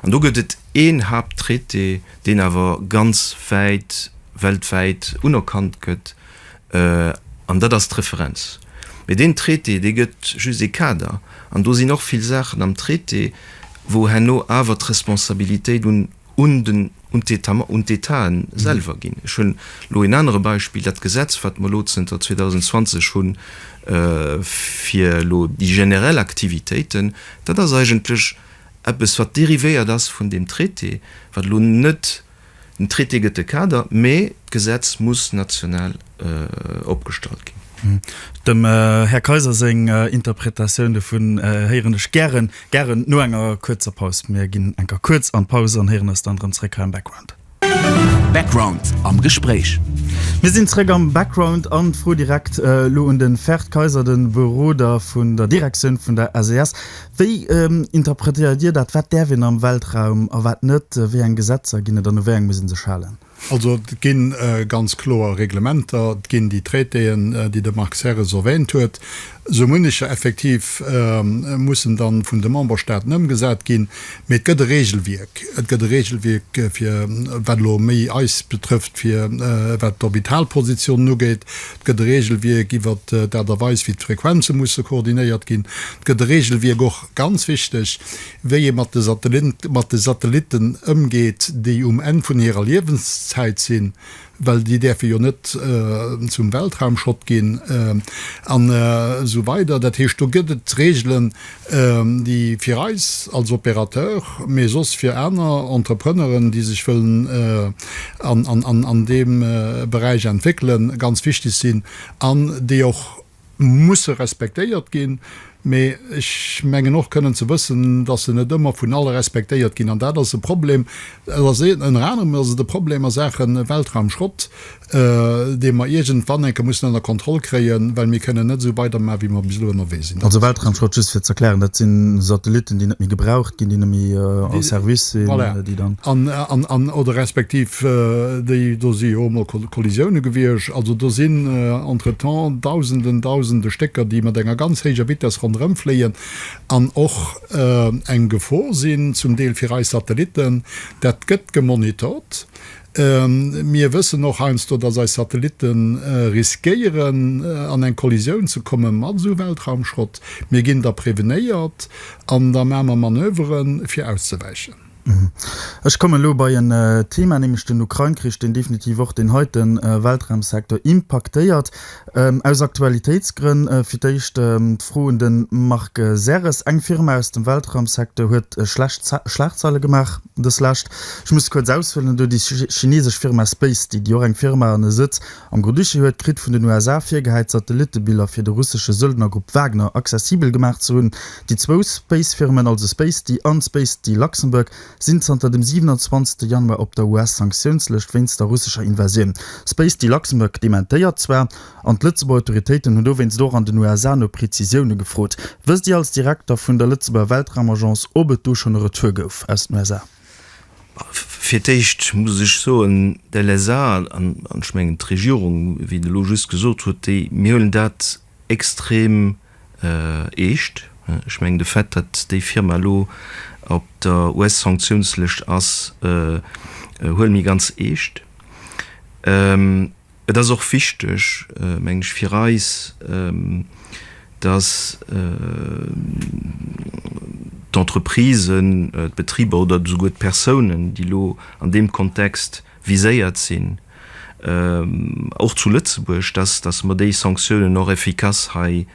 An do gëtt et een Haapttraité, deen awer ganz wäit weltwäit unerkannt gëtt, an dat ass d'Referenz. Mee deen Traité, dee gëtt just ee Kader. An do sinn och vill Saachen am Traité, wou herno awer d'Responsabilitéit un un d'Etaen selwer ginn. Ech hunn elo een anere Beispill, dat Gesetz, wat mer elo zënter 2020 hunn fir elo déi generell Aktivitéiten, dat ass eigentlech eppes, wat derivéiert ass vun deem Traité, wat elo net, den Traité gëtt de Kader, mä d'Gesetz muss national. opgestallt ginn. Dem Här Kayser seng Interpretatioun dovun héieren ech gären, gären no enger kuerzer Paus. Mir ginn enker kuerz an d'Paus an héieren eis dann erëm zréck hei am Background. Background am Gespréich. Mir sinn zréck am Background an d'Fro direkt elo un den Ferd Kayser, den Beroder vun der Direktioun vun der SES. Wéi interpretéiert Dir dat? Wat däerf een am Weltraum a wat net? Wéi eng Gesetzer ginn et an u wéi eng muss ee sech halen? Also et gi ganz kloer Reglementer, et ginn déi Traitéen, déi de Marc Serres erwähnt huet. Sou munnecher effektiv mussen dann vun de Memberstaaten ëmgesat ginn. Mee et gëtt e Regelwierk. Et gëtt e Regelwierk fir, wat elo méi eis betrëfft, fir wat d'Orbitalpositionen ugeet. Et gëtt e Regelwierk iwwert d'Aart a Weis, wéi d'Frequenze musse koordinéiert ginn. Et gëtt e Regelwierk och, ganz wichteg, wéi ee mat de Satellitten ëmgeet, déi um Enn vun hirer Liewenszäit sinn, well déi däerfe jo net zum Weltraumschrott ginn, an esou weider. Dat heescht, do gëtt et Reegelen, déi fir eis als Opérateur, mee soss fir aner Entrepreneuren, déi sech wëllen an deem Beräich entwéckelen, ganz wichteg sinn an déi och musse respektéiert ginn, mee ech mengen och kënnen ze wëssen, datt se net ëmmer vun alle respektéiert ginn. An dat ass e Problem. Et ass ee, ënner anerem ass et e Problem a Saache Weltraumschrott, dee mer iergendwann eng Kéier mussen ënner Kontroll kréien, well mir kënnen net esou weidermachen, wéi mer bis elo ënnerwee sinn. Also Weltraumschrott, just fir ze erklären, dat si Satellitten, déi net méi gebraucht ginn, déi net méi a Service sinn, déi dann. Voilà. An, an, oder respektiv déi do si jo emol Kollisioune gewiescht. Also do sinn entretemps Dausenden, Dausende Stécker, déi mat enger ganz héijer Vitess ronderëmfléien an och eng Gefor sinn, zum Deel fir eis Satellitten. Dat gëtt gemonitort. Mir wëssen och heiansdo, dass eis Satellitte riskéieren, an eng Kollisioun ze komme mat esou Weltraumschrott. Mir ginn da prevenéiert an da maache mer Manöveren, fir auszewäichen. Ech kommen elo bei en Thema, nämlech den Ukrain-Krich, deen definitiv och deen heite Weltraumsecteur impaktéiert. Aus Aktualitéitsgrënn fir d'éischt d'Fro un de Marc Serres. Eng Firma aus dem Weltraumsecteur huet schlecht Schlagzeile gemaach deslescht. Ech muss kuerz aushuelen, et ass déi chinesesch Firma SpaceDig, déi och eng Firma an e Sëtz Am Grodischi huet kritt vun den USA virgehäit Satellittebiller fir de russesche Söldnergrupp Wagner accessibel gemaach ze hunn. Déi zwou Spacefirmen, also Spacety an Spacety Luxembourg, sinn zanter dem 27 Januar op der US-Sanktiounslëscht wéinst der russescher Invasioun. Spacety Luxembourg dementéiert zwar, an d'Lëtzebuerger Autoritéiten hunn dowéinst och an den USA no Prezisioune gefrot. Wësst Dir als Direkter vun der Lëtzebuerger Weltraumagence, ob et do schonn e Retour gouf aus den USA? Fir d'éischt muss ech soen, de LSA an ech mengen d'Regierung, wéi en elo just gesot huet, déi, mir huelen dat extrem eescht. Ech mengen de Fait, datt déi Firma elo op der US-Sanktiounslëscht ass, huele mir ganz eescht. Et ass och wichteg, meng ech, fir eis, dass d'Entreprisen, d'Betriber oder esouguer d'Persounen, déi elo an deem Kontext viséiert sinn, och zu Lëtzebuerg, dass mer déi Sanktiounen och efficace hei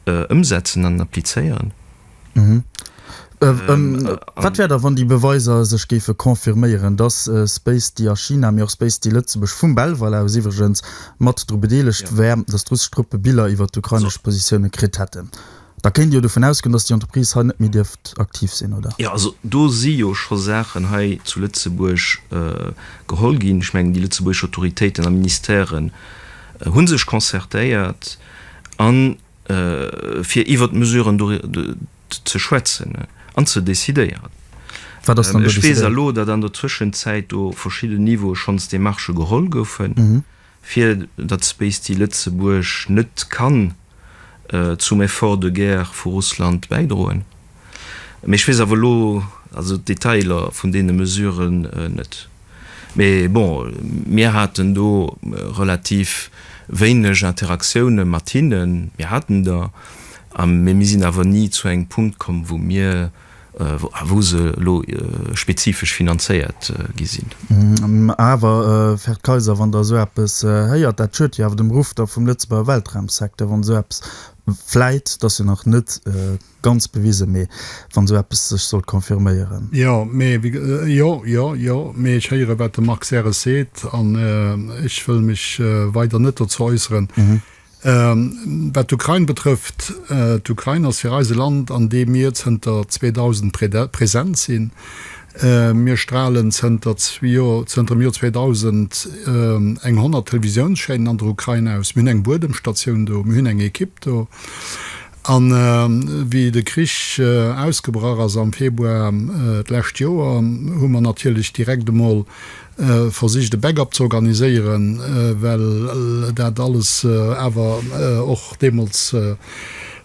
ëmsetzen an applizéieren. Wat wär da wann déi Beweiser sech géife confirméieren, datt Spacedee a China, mee och Spacedee Lëtzebuerg, vum Belval aus iwwregens, mat dru bedeelegt wär, datt russesch Truppe Biller iwwer d'ukrainesch Positioune kritt hätten? Da kéint ee jo dovun ausgoen, datt déi Entreprise hei net méi dierft aktiv sinn, oder? Jo, also do si jo scho Saachen hei zu Lëtzebuerg geholl ginn. Ech mengen, déi lëtzebuergesch Autoritéiten a Ministèren hu sech concertéiert an fir iwwert d'Mesuren do ze schwätzen an ze decidéieren. Ech weess elo, datt an der Zwëschenzäit do op verschidde Niveaue schonns Demarchë geholl goufen, fir datt Space Tea Lëtzebuerg net kann zum Effort de guerre vu Russland bäidroen. Mee ech weess awer elo d'Detailer vun deene Mesurë net. Mee bon, mir haten do relativ wéineg Interaktioune mat hinnen. Mir haten der, mee mir sinn awer ni zu engem Punkt komm, wou mir, wou se elo spezifesch finanzéiert gi sinn. Awer, Här Kaiser, wann Der esou eppes héiert, dat schürt jo awer dem Ruff da vum Lëtzebuerger Weltraumsecteur, wann esou eppes, vläit, et ass jo nach net, Ganz bewisen, mee wann sou eppes sech sollt confirméieren. Jo, mee wéi ge-, jo, jo, jo, mee ech héieren, wat de Marc Serres seet, an ech wëll mech weider net dozou äusseren. Wat d'Ukrain betrëfft, d'Ukrain ass fir eis e Land, an deem mir zënter 2000 präsent sinn. Mir stralen zënter dem Joer 2000 eng 100 Televisiounschaînen an der Ukrain aus. Mir hunn eng Buedemstatioun do, mir hunn eng Ekipp do. A wéi de Krich ausgebrach ass am Februar d'lescht Joer, hu mer natierlech direkt emol versicht e Backup ze organiséieren, well dat alles awer och deemools e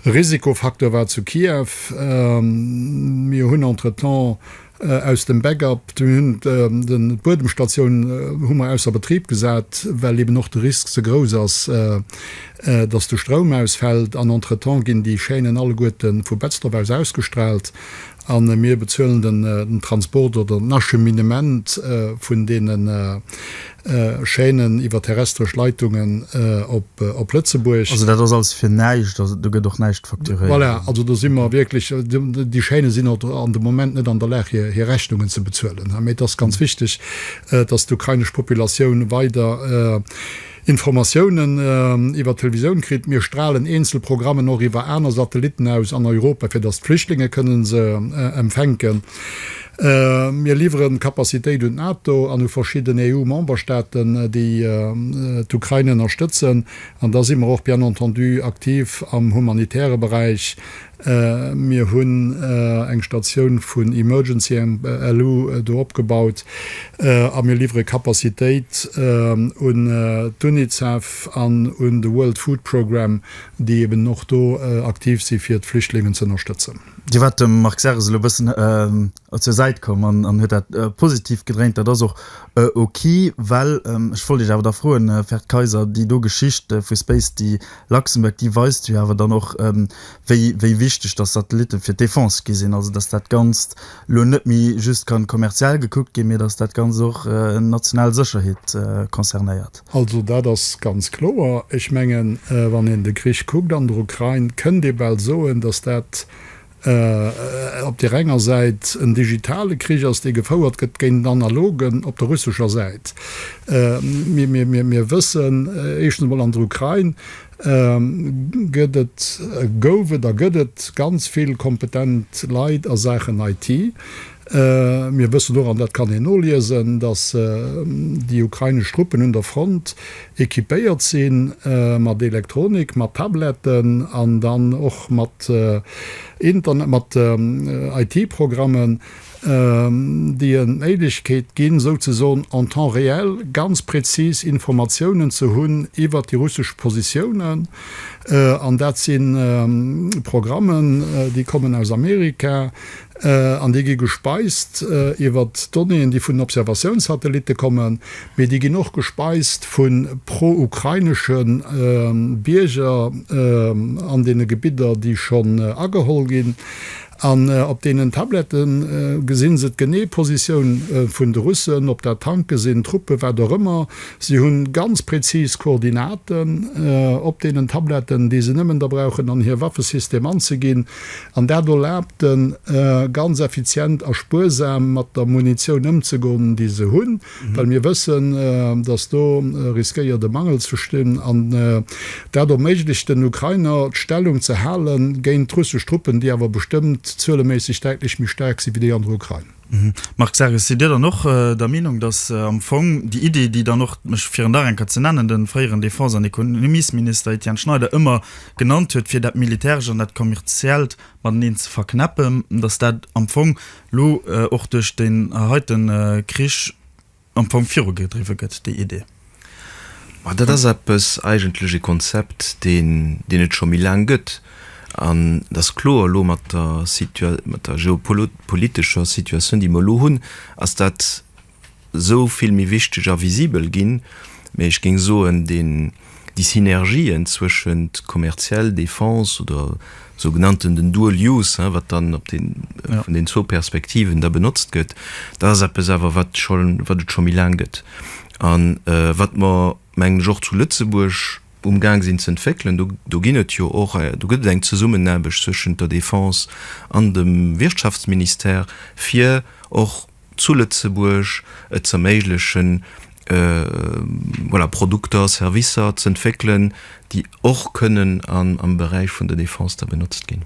Risikofacteur war zu Kiew. Mir hunn entretemps Aus dem Backup, mir hunn de Buedemstatioun hu mer ausser Betrib gesat, well eben och de Risk ze grouss ass, datt de Stroum ausfält. An entretemps ginn déi Chaînen alleguerte vu Betzdorf aus ausgestraalt a mir bezuelen den Transport oder den Acheminement vun deene Chaînen iwwer terrestresch Leitungen op Lëtzebuerg. Also dat ass alles fir näischt, also do gëtt och näischt facturéiert? Voilà, also do si mer wierklech, déi Chaînen sinn och an de Moment net an der Lag hir Rechnungen ze bezuelen. Mee et ass ganz wichteg, datt d'ukrainesch Populatioun weider Informatiounen iwwer d'Televisioun kritt. Mir stralen eenzel Programmen och iwwer aner Satellitten aus an Europa, fir datt d'Flüchtlinge kënne se empfänken. Mir liwweren d'Capacitéit un d'NATO an u verschidden EU-Memberstaaten, déi d'Ukrain ënnerstëtzen. An da si mer och bien entendu aktiv am humanitäre Beräich. Mir hunn eng Statioun vun Emergency Alu do opgebaut a mir liwwere Capacitéit un d'UNICEF an un de World Food Programme, déi eeben och do aktiv si fir d'Flüchtlingen z'ënnerstëtzen. Dir waart dem Marc Serres elo e bëssen zur Säit komm an huet dat positiv gedréint. Dat ass och ok, well ech wollt Iech awer da froen, Här De Keyser, déi do Geschicht vu Space de Luxembourg, déi weist jo awer dann och, wéi wichteg dass Satellitte fir d'Defense gi sinn, also dass dat Ganzt elo net méi just kann kommerziell gekuckt ginn, mee dass dat Ganzt och national Sécherheet concernéiert. Also dat ass ganz kloer. Ech mengen, wann een de Krich kuckt an der Ukrain, kënnt ee bal soen, datt dat op där enger Säit en digitale Krich ass, dee gefouert gëtt géint en analogen op der russescher Säit. Mir wëssen éischtens emol, an der Ukrain gëtt et, gouf et a gëtt et ganz vill kompetent Leit a Saachen IT. Mir wëssen och, an dat kann een noliesen, datt déi ukrainesch Truppen un der Front equipéiert si mat Elektronik, mat Tabletten an dann och mat Internet, mat IT-Programmen, déi en d'Méiglechkeet ginn, souzesoen en temps réel ganz prezis Informatiounen ze hunn iwwert déi russesch Positiounen. An dat si Programmen, déi kommen aus Amerika, An déi gi gespeist iwwer Donnéeën, déi vun den Observatiounssatellitte kommen, mee déi ginn och gespeist vu pro-ukrainesche Bierger an deene Gebidder, déi schonn ageholl ginn. An op deenen Tablette gesi se d'genee Positioun vun de Russen, ob dat Tanke sinn, Truppe, wat och ëmmer. Si hu ganz prezis Koordinaten op deenen Tabletten, déi se nëmmen da brauchen, an hir Waffesystem anzeginn. An dat erlaabt en, ganz effizient a spuersam mat der Munitioun ëmzegoen, déi se hunn, well mir wëssen, dass do riskéiert e Mangel ze stinn. An dat erméiglecht den Ukrainer, d'Stellung ze hale géint russesch Truppen, déi awer bestëmmt zueleméisseg däitlech méi staark si wéi déi an der Ukrain. Marc Sarges, Sidd Dir dann och der Meenung, datt am Fong déi Idee, déi dann och, ech fir en nach eng Kéier ze nennen, de fréieren Defense an Ekonomiesminister Etienne Schneider ëmmer genannt huet, fir dat Militärescht an dat Kommerziellt mateneen ze verknäppen, datt dat am Fong elo och duerch deen heite Krich, Am Fong virugedriwwe gëtt déi Idee. Ma dat ass eppes, eigentlech e Konzept, deen, deen et scho méi laang gëtt. An et ass kloer, elo mat der Situa-, mat der geopolo-, politescher Situatioun, déi mer elo hunn, ass dat esou vill méi wichteg a visibel ginn. Mee ech géing soen, dee. déi Synergien zwëschent kommerziell, Defense oder sou genannten den Dual Use, wat dann op den vun den zwou Perspektiven da benotzt gëtt, dat ass eppes awer, wat scho wat et scho méi laang gëtt a wat mer, mengen ech, och zu Lëtzebuerg umgaang sinn ze entwéckelen. Do do ginn et jo och do gëtt et eng Zesummenaarbecht zwëschent der Defense an dem Wirtschaftsministère, fir och, zu Lëtzebuerg et z'erméiglechen, voilà, Produkter, Servicer z'entwéckelen, déi och kënnen am Beräich vun der Defense da benotzt ginn.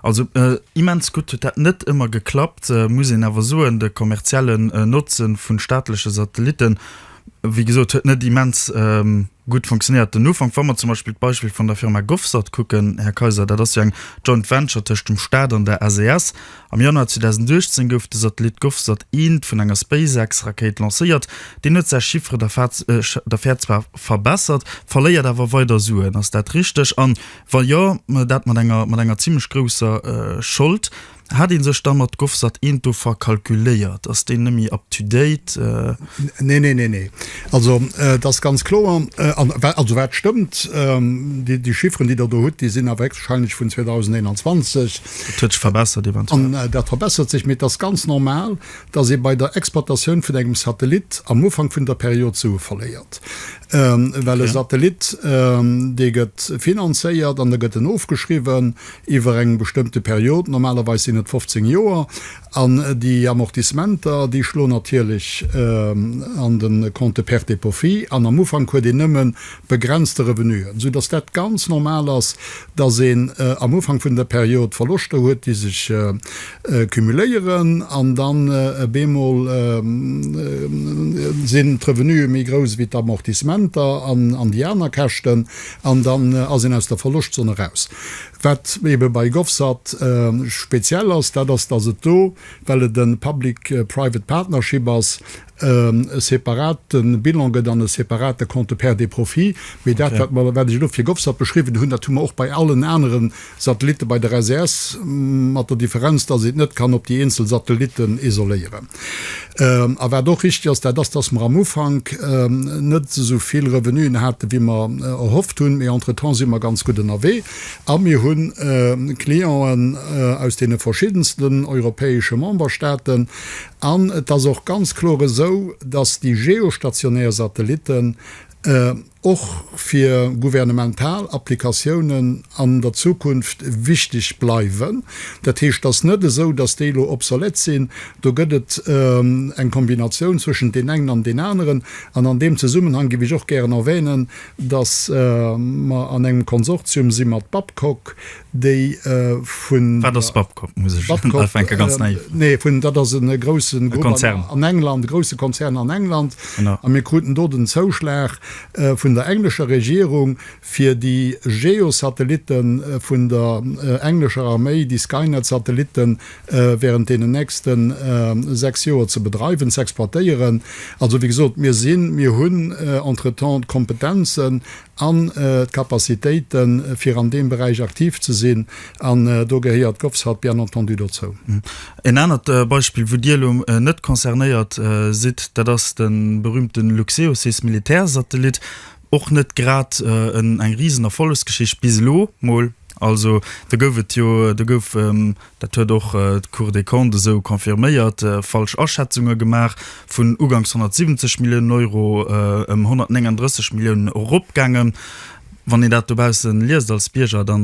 Also immens gutt huet dat net ëmmer geklappt, muss een awer soen. De kommerziellen Notze vun staatleche Satellitten wéi gesot, huet net immens gutt funktionéiert den Ufank. Wa mer zum Beispill d'Beispill vun der Firma Govsat kucken, Här Kaiser, dat ass jo eng Joint Venture tëscht dem Staat an der SES. Am Januar 2018 gouf de Satellit Govsat I vun enger SpaceX-Rakéit lancéiert. Deen huet säi Chiffre d'affaires zwar verbessert, verléiert awer weider Suen. Ass dat richteg? A wa jo, dat mat enger zimlech grousser Schold. Hat een sech da mat Govsat eent do verkalkuléiert? Ass deen nemme up to date? Nee, nee, nee, nee. Also et ass ganz kloer, also wat stëmmt, déi Chifferen, déi Der do hutt, déi sinn awer héchstwahrscheinlech vun 2021. Dat huet sech verbessert eventuell. An dat verbessert sech, mee et ass ganz normal, dass ee bei der Exploitatioun vun engem Satellit am Ufank vun der Period Sue verléiert, well e Satellit, dee gëtt finanzéiert an da gëtt en ofgeschriwwen, iwwer eng bestëmmte Period, normalerweis sinn et 15 Joer, an déi Amortissementer, déi schloen natierlech an de Compte de pertes et profits an, am Ufank huet een nëmme begrenzte Revenuen, sou datt dat ganz normal ass, datt een am Ufank vun der Period Verloschter huet, déi sech cumuléieren, an dann op eemol sinn d'Revenue méi grouss wéi d'Amortissementer an déi aner Käschten, an dann ass een aus der Verloschtzon eraus. Wat ebe bei GovSat speziell ass, dat ass, dass et do, well et e Public Private Partnership ass, e separate Bilan gëtt an e separate Compte Pertes et Profits. Mee dat, wat mer, wat ech elo fir GovSat beschriwwen hunn, dat hu mer och bei allen anere Satellitte bei der SES, mat der Differenz, dass ee et net kann op déi eenzel Satellitten isoléieren. A wat och richtig ass, dat ass, dass mer am Ufank net esou vill Revenuen haten, wéi mer erhofft hunn. Mee entretemps si mer ganz gutt ënnerwee a mir hu Clienten aus deene verschiddensten europäesche Memberstaaten. An et ass och ganz kloer esou, dass déi geostationär Satellitten och fir gouvernemental Applikatiounen an der Zukunft wichteg bleiwen. Dat heescht, et ass net esou, datt déi elo obsolète sinn. Do gëtt et eng Kombinatioun zwëschent deem engen an deem aneren. An an deem Zesummenhang géif ech och gären erwänen, datt mer an engem Konsortium si mat Babcock, déi vun. Wat ass Babcock? Muss ech ufänken ganz naïf? Babcock, nee, vun, dat ass e groussen Grupp. E Konzern. An England, e grousse Konzern an England. Genau. A mir kruten do den Zouschlag vun der englescher Regierung, fir déi Geo-Satellitte vun der englescher Arméi, déi Skynet-Satellitte während deenen nächste sechs Joer ze bedreiwen, ze exploitéieren. Also wéi gesot, mir sinn, mir hunn entretemps d'Kompetenzen. an d'Capacitéite fir an deem Beräich aktiv ze sinn, an do gehéiert d'Govsat bien entendu dozou. En anert Beispill, wou Dir elo net concernéiert sidd, dat ass de berüümte Luxeos, heescht Militärsatellit, och net grad eng Risenerfollegsgeschicht, bis elo mol. Also do gouf et jo, do gouf Dat huet och d'Cour des Comptes esou confirméiert. Falsch Aschätzunge gemaach, vun ugangs 170 Milliounen Euro ëm 139 Milliounen eropgaangen. Wann een dat dobausse liest als Bierger, da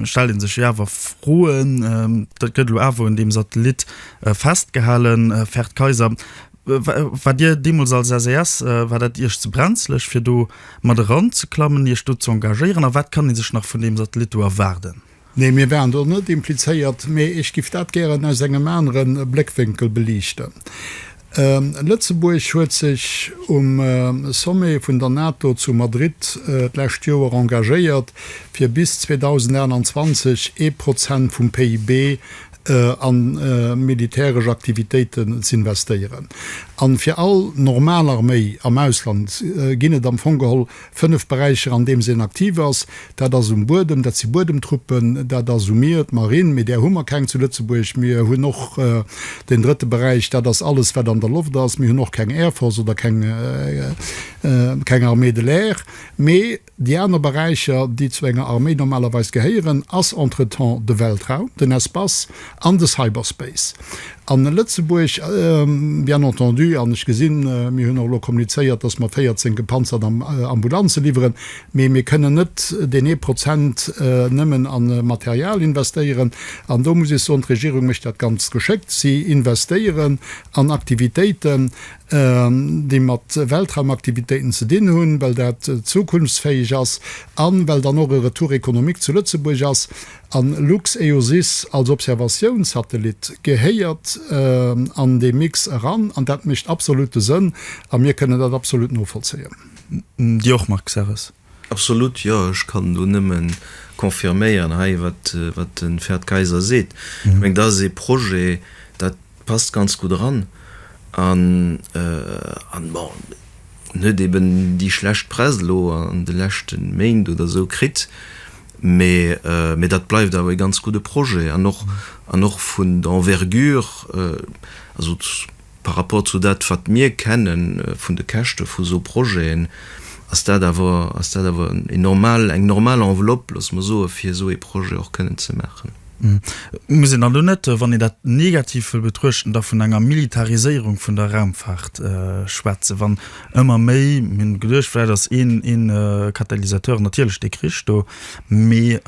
stellt ee sech jo awer Froen. Dat gëtt elo awer un deem Satellit festgehalen. Ferd Kayser, waart Dir deemools als SAS, war dat Iech ze brenzlech, fir do mat eranzeklammen, Iech do ze engagéieren? A wat kann ee sech nach vun deem Satellit do erwaarden? Nee, mir waren do net implizéiert, mee ech giff dat gären aus engem anere Bléckwénkel beliichten. Lëtzebuerg huet sech um Sommet vun der NATO zu Madrid d'lescht Joer engagéiert, fir bis 2028 ee Prozent vum PIB a militäresch Aktivitéiten z'investéieren. A fir all normal Arméi am Ausland ginn et am Fong geholl Fënnef Beräicher, an deem se en aktiv ass, dat ass um Buedem, dat si Buedemtruppen, dat ass um Mier, d'Marinn, mee där hu mer keng zu Lëtzebuerg. Mir hunn och den drëtte Beräich, dat ass alles, wat an der Loft ass. Mir hunn och keng Air Force oder keng Armée de l'air. Mee déi aner Beräicher, déi zu enger Arméi normalerweis gehéieren, ass entretemps de Weltraum, den Espace, An de Cyberspace a Lëtzebuerg, bien entendu. An ech gesinn, mir hunn och elo kommunizéiert, datt mer 14 gepanzert Ambulanze liwweren. Mee mir kënnen net deen ee Prozent nëmmen a Material investéieren. An do muss ee soen, d'Regierung mécht dat ganz geschéckt. Si investéieren an Aktivitéiten, déi mat Weltraumaktivitéiten ze dinn hunn, well dat zukunftsfäeg ass an well dann och e Retour économique zu Lëtzebuerg ass. An LuxEOSys als Observatiounssatellit gehéiert an dee Mix eran an dat mécht absolutte Sënn a mir kënnen dat absolut novollzéien. Dir och, Marc Serres? Absolut, jo. Ech kann do nëmme confirméieren hei, wat de Ferd Kayser seet. Ech mengen, dat ass ee Projet, dat passt ganz gutt eran an, bon, en huet eben déi schlecht Press elo an de leschte Méint oder esou kritt, mee dat bleift awer e ganz gudde Projet an och an och vun der Envergure, also par rapport zu dat wat mir kenne vun de Käschte vu sou Projeten, ass dat awer ass dat awer en normal eng normal Enveloppe, loosse mer soe fir esou ee Projet och kënnen ze maachen. Muss een dann do net, wann een dat negativ wëll betruechten, da vun enger Militariséierung vun der Raumfaart schwätzen, wann ëmmer méi, mir hunn geduecht, vläicht ass ee Katalysateur natierlech dee Krich do, mee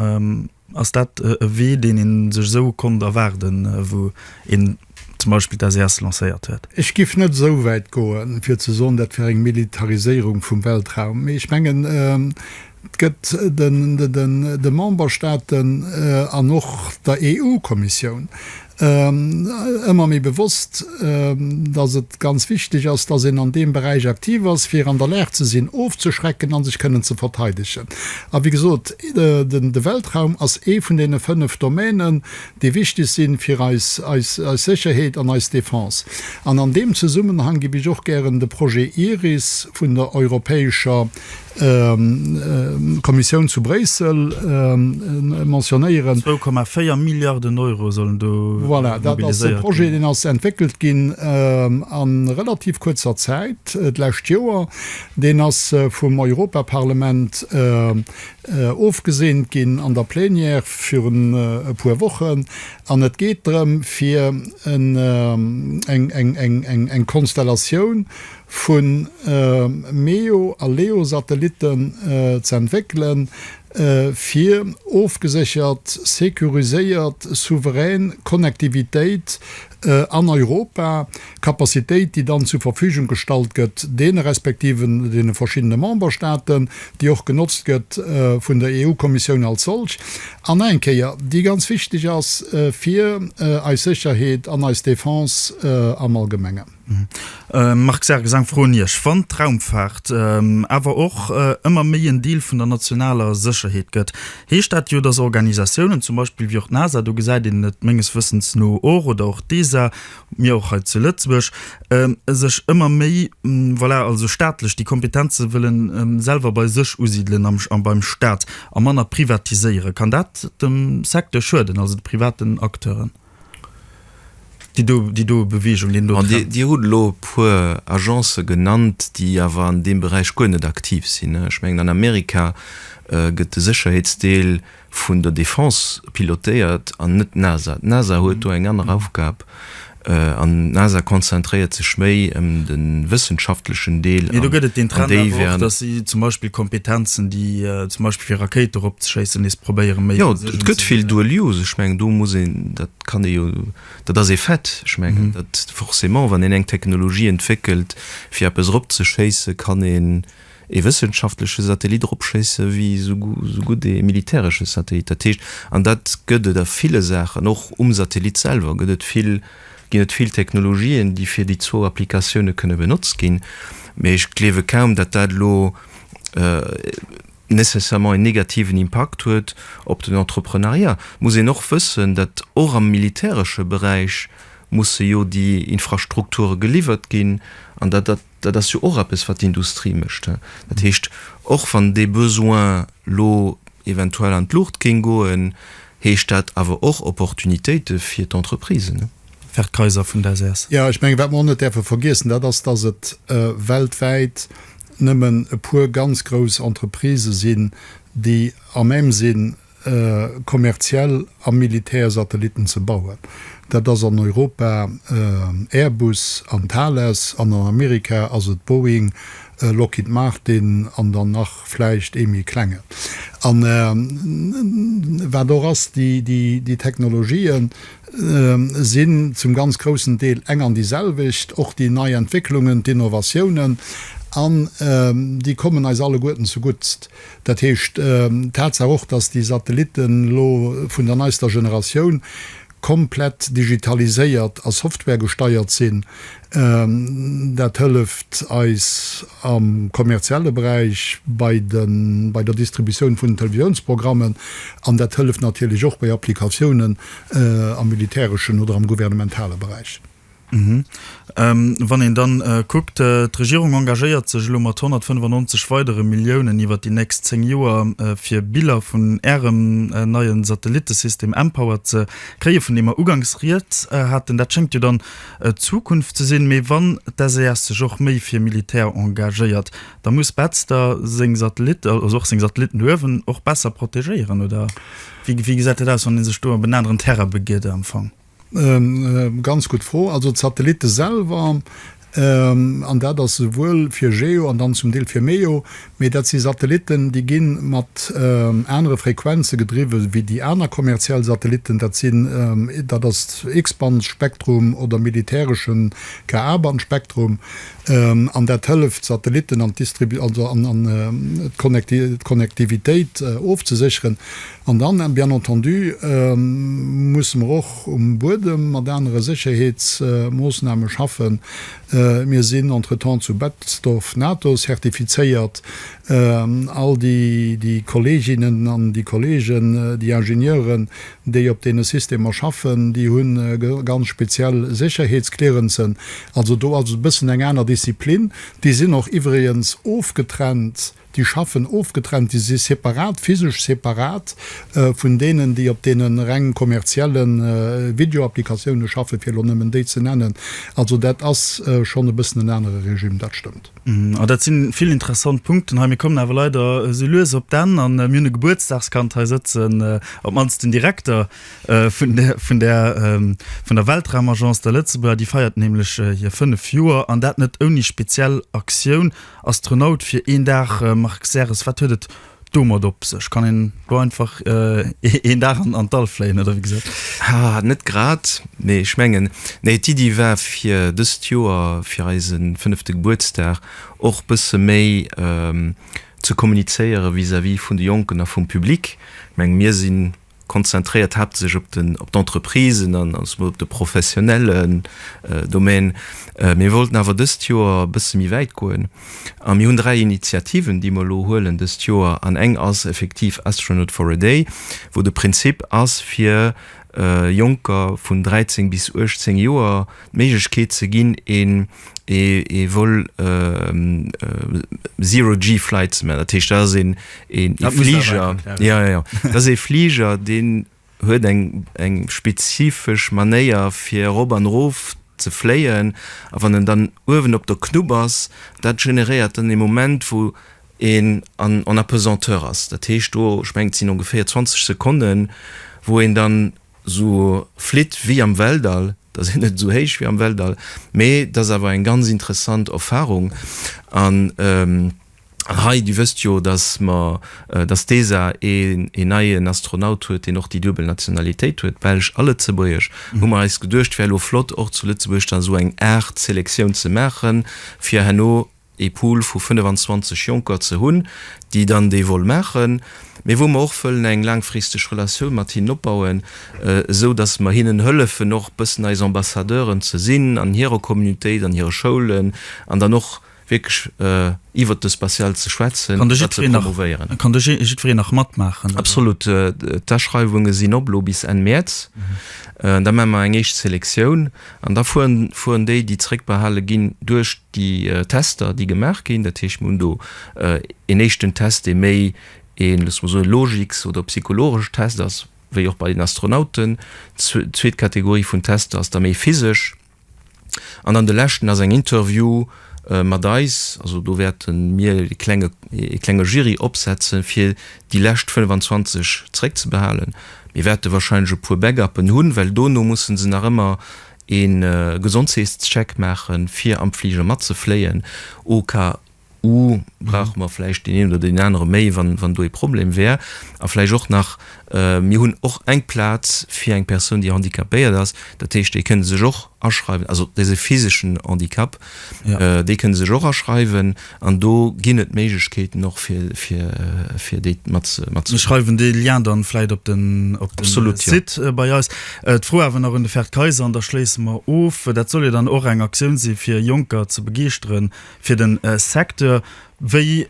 ass dat e Wee, deen ee sech esou konnt erwaarden, wou een zum Beispill d'SES lancéiert huet. Ech giff net esou wäit goen, fir ze soen, dat wär eng Militariséierung vum Weltraum, mee ech mengen, et gëtt de Memberstaaten an och der EU-Kommissioun ëmmer méi bewosst, datt et ganz wichteg ass, datt een an deem Beräich aktiv ass, fir an der Lag ze sinn, ofzeschrecken a sech kënnen ze verteidegen. A wéi gesot, de Weltraum ass ee vun deene fënnef Domänen, déi wichteg si fir eis Sécherheet an eis Defense. An an deem Zesummenhang giff ech och gären de Projet Iris vun der Europäescher Kommissioun zu Bréissel mentionnéieren. Zwou Komma véier Milliarden Euro sollen do mobiliséiert ginn. Voilà, dat ass e Projet, deen ass entwéckelt ginn a relativ kuerzer Zäit, d'lescht Joer. Deen ass vum Europaparlament ofgeseent ginn an der Plénière virun e puer Wochen, an et geet drëm, fir eng Konstellatioun vu MEO a LEO-Satellitten z'entwéckelen, fir ofgeséchert, securiséiert, souverän Connectivitéit an Europa D'Kapazitéit, déi dann zur Verfügung gestallt gëtt, deene respektive deene verschiddene Memberstaaten, déi och genotzt gëtt vun der EU-Kommissioun als solch, an nach eng Kéier, déi ganz wichtig ass fir eis Sécherheet an eis Defense am Allgemengen. Marc Sargis, Eng Fro un Iech. Wann d'Raumfaart awer och ëmmer méi en Deel vun der nationaler Sécherheet gëtt, heescht dat jo, dass Organisatiounen, zum Beispill wéi och d'NASA, do gesäit een et menges Wëssens no och, oder och d'ESA, mir och hei zu Lëtzebuerg, sech ëmmer méi, voilà, also staatlech, déi Kompetenze wëllen selwer bei sech usidelen am, beim Staat a manner privatiséieren. Kann dat dem Secteur schueden, also de privaten Acteuren? Déi do, déi do Bewegung, deen do Trend. Dir hutt elo e puer Agencë genannt, déi awer an deem Beräich guer net aktiv sinn. Ech mengen an Amerika gëtt de Sécherheetsdeel vun der Defense pilotéiert an net d'NASA. D'NASA huet do eng aner Aufgab an d'NASA konzentréiert sech méi ëm de wëssenschaftlechen Deel. Mee do gëtt et deen Trend awer och, datt si zum Beispill Kompetenzen, déi zum Beispill fir Rakéite eropzeschéissen, nees probéiere méi fir sech unzesinn. Jo, et gëtt vill dual use. Ech mengen, do muss een, dat kann ee jo, dat ass ee Fait. Ech mengen, dat forcément, wann een eng Technologie entwéckelt, fir eppes eropzeschéisse kann een, ee wëssenschaftleche Satellit eropschéisse wéi esou gutt ee militäresche Satellit. Dat heescht, an dat gëtt et a ville Saachen, och um Satellit selwer gëtt et vill, ginn et vill Technologien, déi fir déi zwou Applikatioune kënne benotzt ginn. Mee ech gleewe kaum, datt dat elo nécessairement een negativen Impakt huet op den Entreprenariat. Et muss een och wëssen, datt och am militäresche Beräich musse jo déi Infrastrukture geliwwert ginn an datt dat, Dat ass jo och eppes, wat d'Industrie mécht. Dat heescht, och wann dee Besoin elo eventuell an d'Luucht géing goen, heescht dat awer och Opportunitéite fir d'Entreprisen. Ferd Kayser vun der SES. Jo, ech mengen, wat mer och net däerfe vergiessen, dat ass, dass et weltwäit nëmmen e puer ganz grouss Entreprisë sinn, déi à même sinn, kommerziell a militär Satellitten ze bauen. Dat ass an Europa Airbus an Thales an an Amerika ass et Boeing, Lockheed Martin an dann nach vläicht ee méi klengen. A wat och ass, déi Technologië sinn zum ganz groussen Deel eng an déi selwecht, och déi nei Entwécklungen, d'Innovatiounen, an déi kommen eis alleguerten zeguttst. Dat heescht, d'Tatsaach och, datt déi Satellitten elo vun der neister Generatioun komplett digitaliséiert a softwaregesteiert sinn, dat hëlleft eis am kommerzielle Beräich bei de bei der Distributioun vun den Televisiounsprogrammen an dat hëlleft natierlech och bei Applikatiounen am militäreschen oder am gouvernementale Beräich. Wann een dann kuckt, d'Regierung engagéiert sech elo mat 195 weidere Milliounen iwwert déi nächst zéng Joer, fir Biller vun Ärem neie Satellittesystem mPOWER ze kréien, vun deem mer ugangs rieds haten. Dat schéngt jo dann d'Zukunft ze sinn. Mee wann d'SES sech och méi fir Militär engagéiert, da muss Betz da seng Satellitte, also och seng Satellitten duerwen, och besser protegéieren, oder wéi gesäit dat aus, wann ee sech do op en aneren Terrain begiet am Fong? Ganz gutt Fro. Also d'Satellitte selwer, an dat ass esouwuel fir Geo an dann zum Deel fir MEO, mee dat si Satellitten, déi gi mat anere Frequenze gedriwwe wéi déi aner kommerziell Satellitten. Dat sinn, dat ass X-Band-Spektrum oder militäreschen KA-Band-Spektrum. An dat hëlleft d'Satellitten an d'Distribu-, also an d'Connectivitéit ofzesécheren. An dann, bien entendu, musse mer och um Buedem mat anere Sécherheetsmoossname schaffen. Mir sinn entretemps zu Betzdorf NATO-zertifizéiert. All déi Kolleeginnen an déi Kolleegen, déi Ingenieuren, déi op deene Systemer schaffen, déi hu ganz speziell Sécherheetsclearancen. Also do ass et e bëssen eng aner Disziplin. Déi sinn och iwwregens ofgetrennt. déi schaffen ofgetrennt, déi si separat, physesch separat vun deenen, déi op deene reng kommerzielle Videoapplikatioune schaffen, fir elo nëmmen déi ze nennen. Also dat ass schonn e bëssen en anere Regime, dat stëmmt. Ah, dat si vill interessant Punkten hei. Mir kommen awer leider esou lues op d'Enn an mir hunn e Gebuertsdagskand hei sëtzen, op d'mannst den Direkter vun där, vun där, vun der Weltraumagence, der Lëtzebuerger. Déi feiert nämlech hir fënnef Joer an dat net ouni speziell Aktioun. Astronaut fir een Dag, Marc Serres, wat huet et domat op sech? Kann een do einfach een Dag an d'All fléien, oder wéi gesäit dat aus? Haa, net grad, mee ech mengen, nee, d'Iddi war fir dëst Joer, fir eise fënnefte Gebuertsdag och bësse méi ze kommunizéiere vis-à-vis vun de Jonken a vum Public. Ech menge mir sinn konzentréiert haaptsächlech op den, op d'Entreprisen an ech soe mol op de professionellen Domaine. Mir wollten awer dëst Joer e bësse méi wäit goen a mir hunn dräi Initiativen, déi mer elo huelen dëst Joer. An eng ass effektiv Astronaut for a day, wou de Prinzip ass, fir Jonker vun 13 bis 18 Joer d'Méiglechkeet ze ginn, ee. ee Vol Zero G Flights man, dat heescht dat ass een ee Fliger, jo jo, dat ass ee Fliger deen huet eng eng spezifesch Manéier fir erop an erof ze fléien a wann en dann uewen op der Knupp ass, dat generéiert dann ee Moment wou een an en Apesanteur ass, dat heescht do, ech mengen et sinn ongeféier 20 Sekonnen wou een dann. esou flitt wéi am Weltall, da sinn net esou héich wéi am Weltall, mee dat ass awer eng ganz interessant Erfahrung an hei, Dir wësst jo, datt mer, datt d'ESA een neien Astronaut huet, deen och déi duebel Nationalitéit huet, Belsch a Lëtzebuergesch, hu mer eis geduecht, wär elo flott och zu Lëtzebuerg dann esou eng Aart Selektioun ze maachen, fir herno ee Pool vu 25 Jonker ze hunn, déi dann dee Vol maachen, mee wou mer och wëllen eng laangfristeg Relatioun mat hinnen opbauen, esou datt mer hinnen hëllefen och bëssen eis Ambassadeuren ze sinn an hirer Communautéit, an hire Schoulen an dann och wierklech iwwert de Spatial ze schwätzen, dat ze promouvéieren. Kann do jiddwereen nach matmaachen? Absolut. D'Aschreiwunge sinn op elo bis Enn Mäerz. Da maache mer eng éischt Selektioun An da fueren déi, déi zréckbehale ginn, duerch déi Tester, déi gemaach ginn. Dat heescht, mir hunn do een éischten Test, dee méi ee, loosse mer soen, Logiks oder psychologesch Test ass, wéi och bei den Astronauten. D'zweet Kategorie vun Tester ass da méi physesch. An dann de leschten ass eng Interview-Phas, Mat eis, also do wäerte mir e klenge, ee klenge Jury opsetzen, fir déi lescht 25 zréckzebehalen. Mir wäerte wahrscheinlech e puer Backuppen hunn, well dono musse se nach ëmmer e Gesondheetscheck maachen, fir am Fliger matzefléien, au cas où brauche mer vläicht deen een oder deen anere méi, wann do e Problem wär. A vläicht och nach, mir hunn och eng Plaz fir eng Persoun, déi handicapéiert ass, dat heescht, déi kënne sech och. aschreiwen, also dee physeschen Handicap, déi kënne sech och aschreiwen an do ginn et Méiglechkeeten och fir déi matzeschreiwen. Mir schreiwen dee Lien dann vläit op den Site bei eis. D'Fro awer nach un de Ferd Kayser an da schléisse mer of, dat soll jo dann och eng Aktioun si fir Jonker ze begeeschtere fir de Secteur. Wéi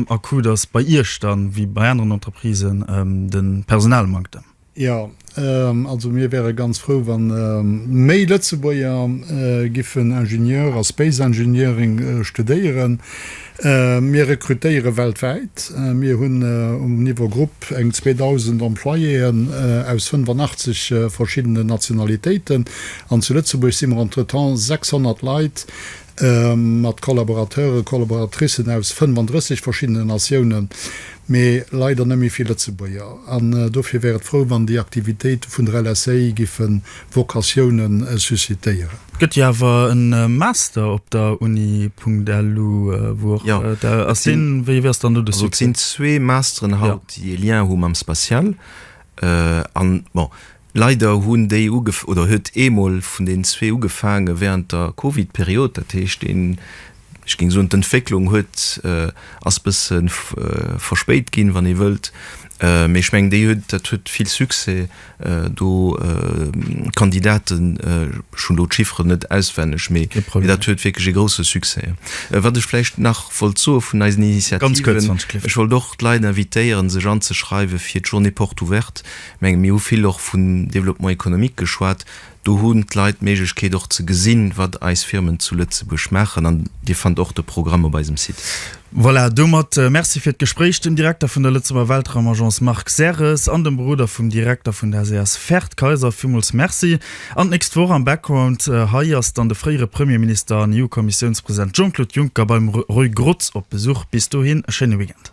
akut ass bei Iech dann, wéi bei aneren Entreprisen, de Personalmanktem? Jo, also mir wäre ganz frou, wa méi Lëtzebuerger giffen Ingenieur a Space Engineering studéieren. Mir rekrutéiere weltwäit. Mir hunn um Niveau Grupp eng 2.000 Employéen aus 85 verschiddenen Nationalitéiten. An zu Lëtzebuerg si mer entretemps 600 Leit, mat Collaborateuren, Collaboratricen aus 35 verschiddenen Natiounen, mee leider net méi vill Lëtzebuerger. An dofir wär et frou, wann déi Aktivitéite vun der LSA giffe Vocatiounen suscitéieren. Et gëtt jo awer e Master op der Uni. Lu, wou och der ass. Deen, wéi ass dann do de Succès? Et sinn zwee Masteren haut, déi e Lien hu mam Spatial. An bon, Leider hunn déi ugef oder huet ee mol vun den zwee ugefaange während der Covid-Period. Dat heescht, den, ech géing soen, d'Entwécklung huet, ass bësse verspéit ginn, wann ee wëllt, mee ech mengen, déi huet, dat huet vill Succès do, Kandidaten, ech hunn elo d'Chifferen net auswenneg, mee dat huet wierklech ee grousse Succès. Wat ech vläicht nach wollt soe vun eisen Initiativen, ech wollt och d'Leit invitéieren, sech anzeschreiwe fir d'Journée Porte Ouverte. Menge mir hu vill och vun Développement économique geschwat. Do hunn d'Leit d'Méiglechkeet och ze gesinn, wat eis Firmen zu Lëtzebuerg maachen an Dir fannt och de Programm op eisem Site. Voilà, domat Merci fir d'Gespréich dem Direkter vun der Lëtzebuerger Weltraumagence Marc Serres an dem Beroder vum Direkter vun der SAS Ferd Kayser. Villmools Merci. An d'nächst Woch am Background hei ass dann de fréiere Premierminister an EU-Kommissiounspresident Jean-Claude Juncker beim Roy Grotz op Besuch. Bis dohin e schéine Weekend.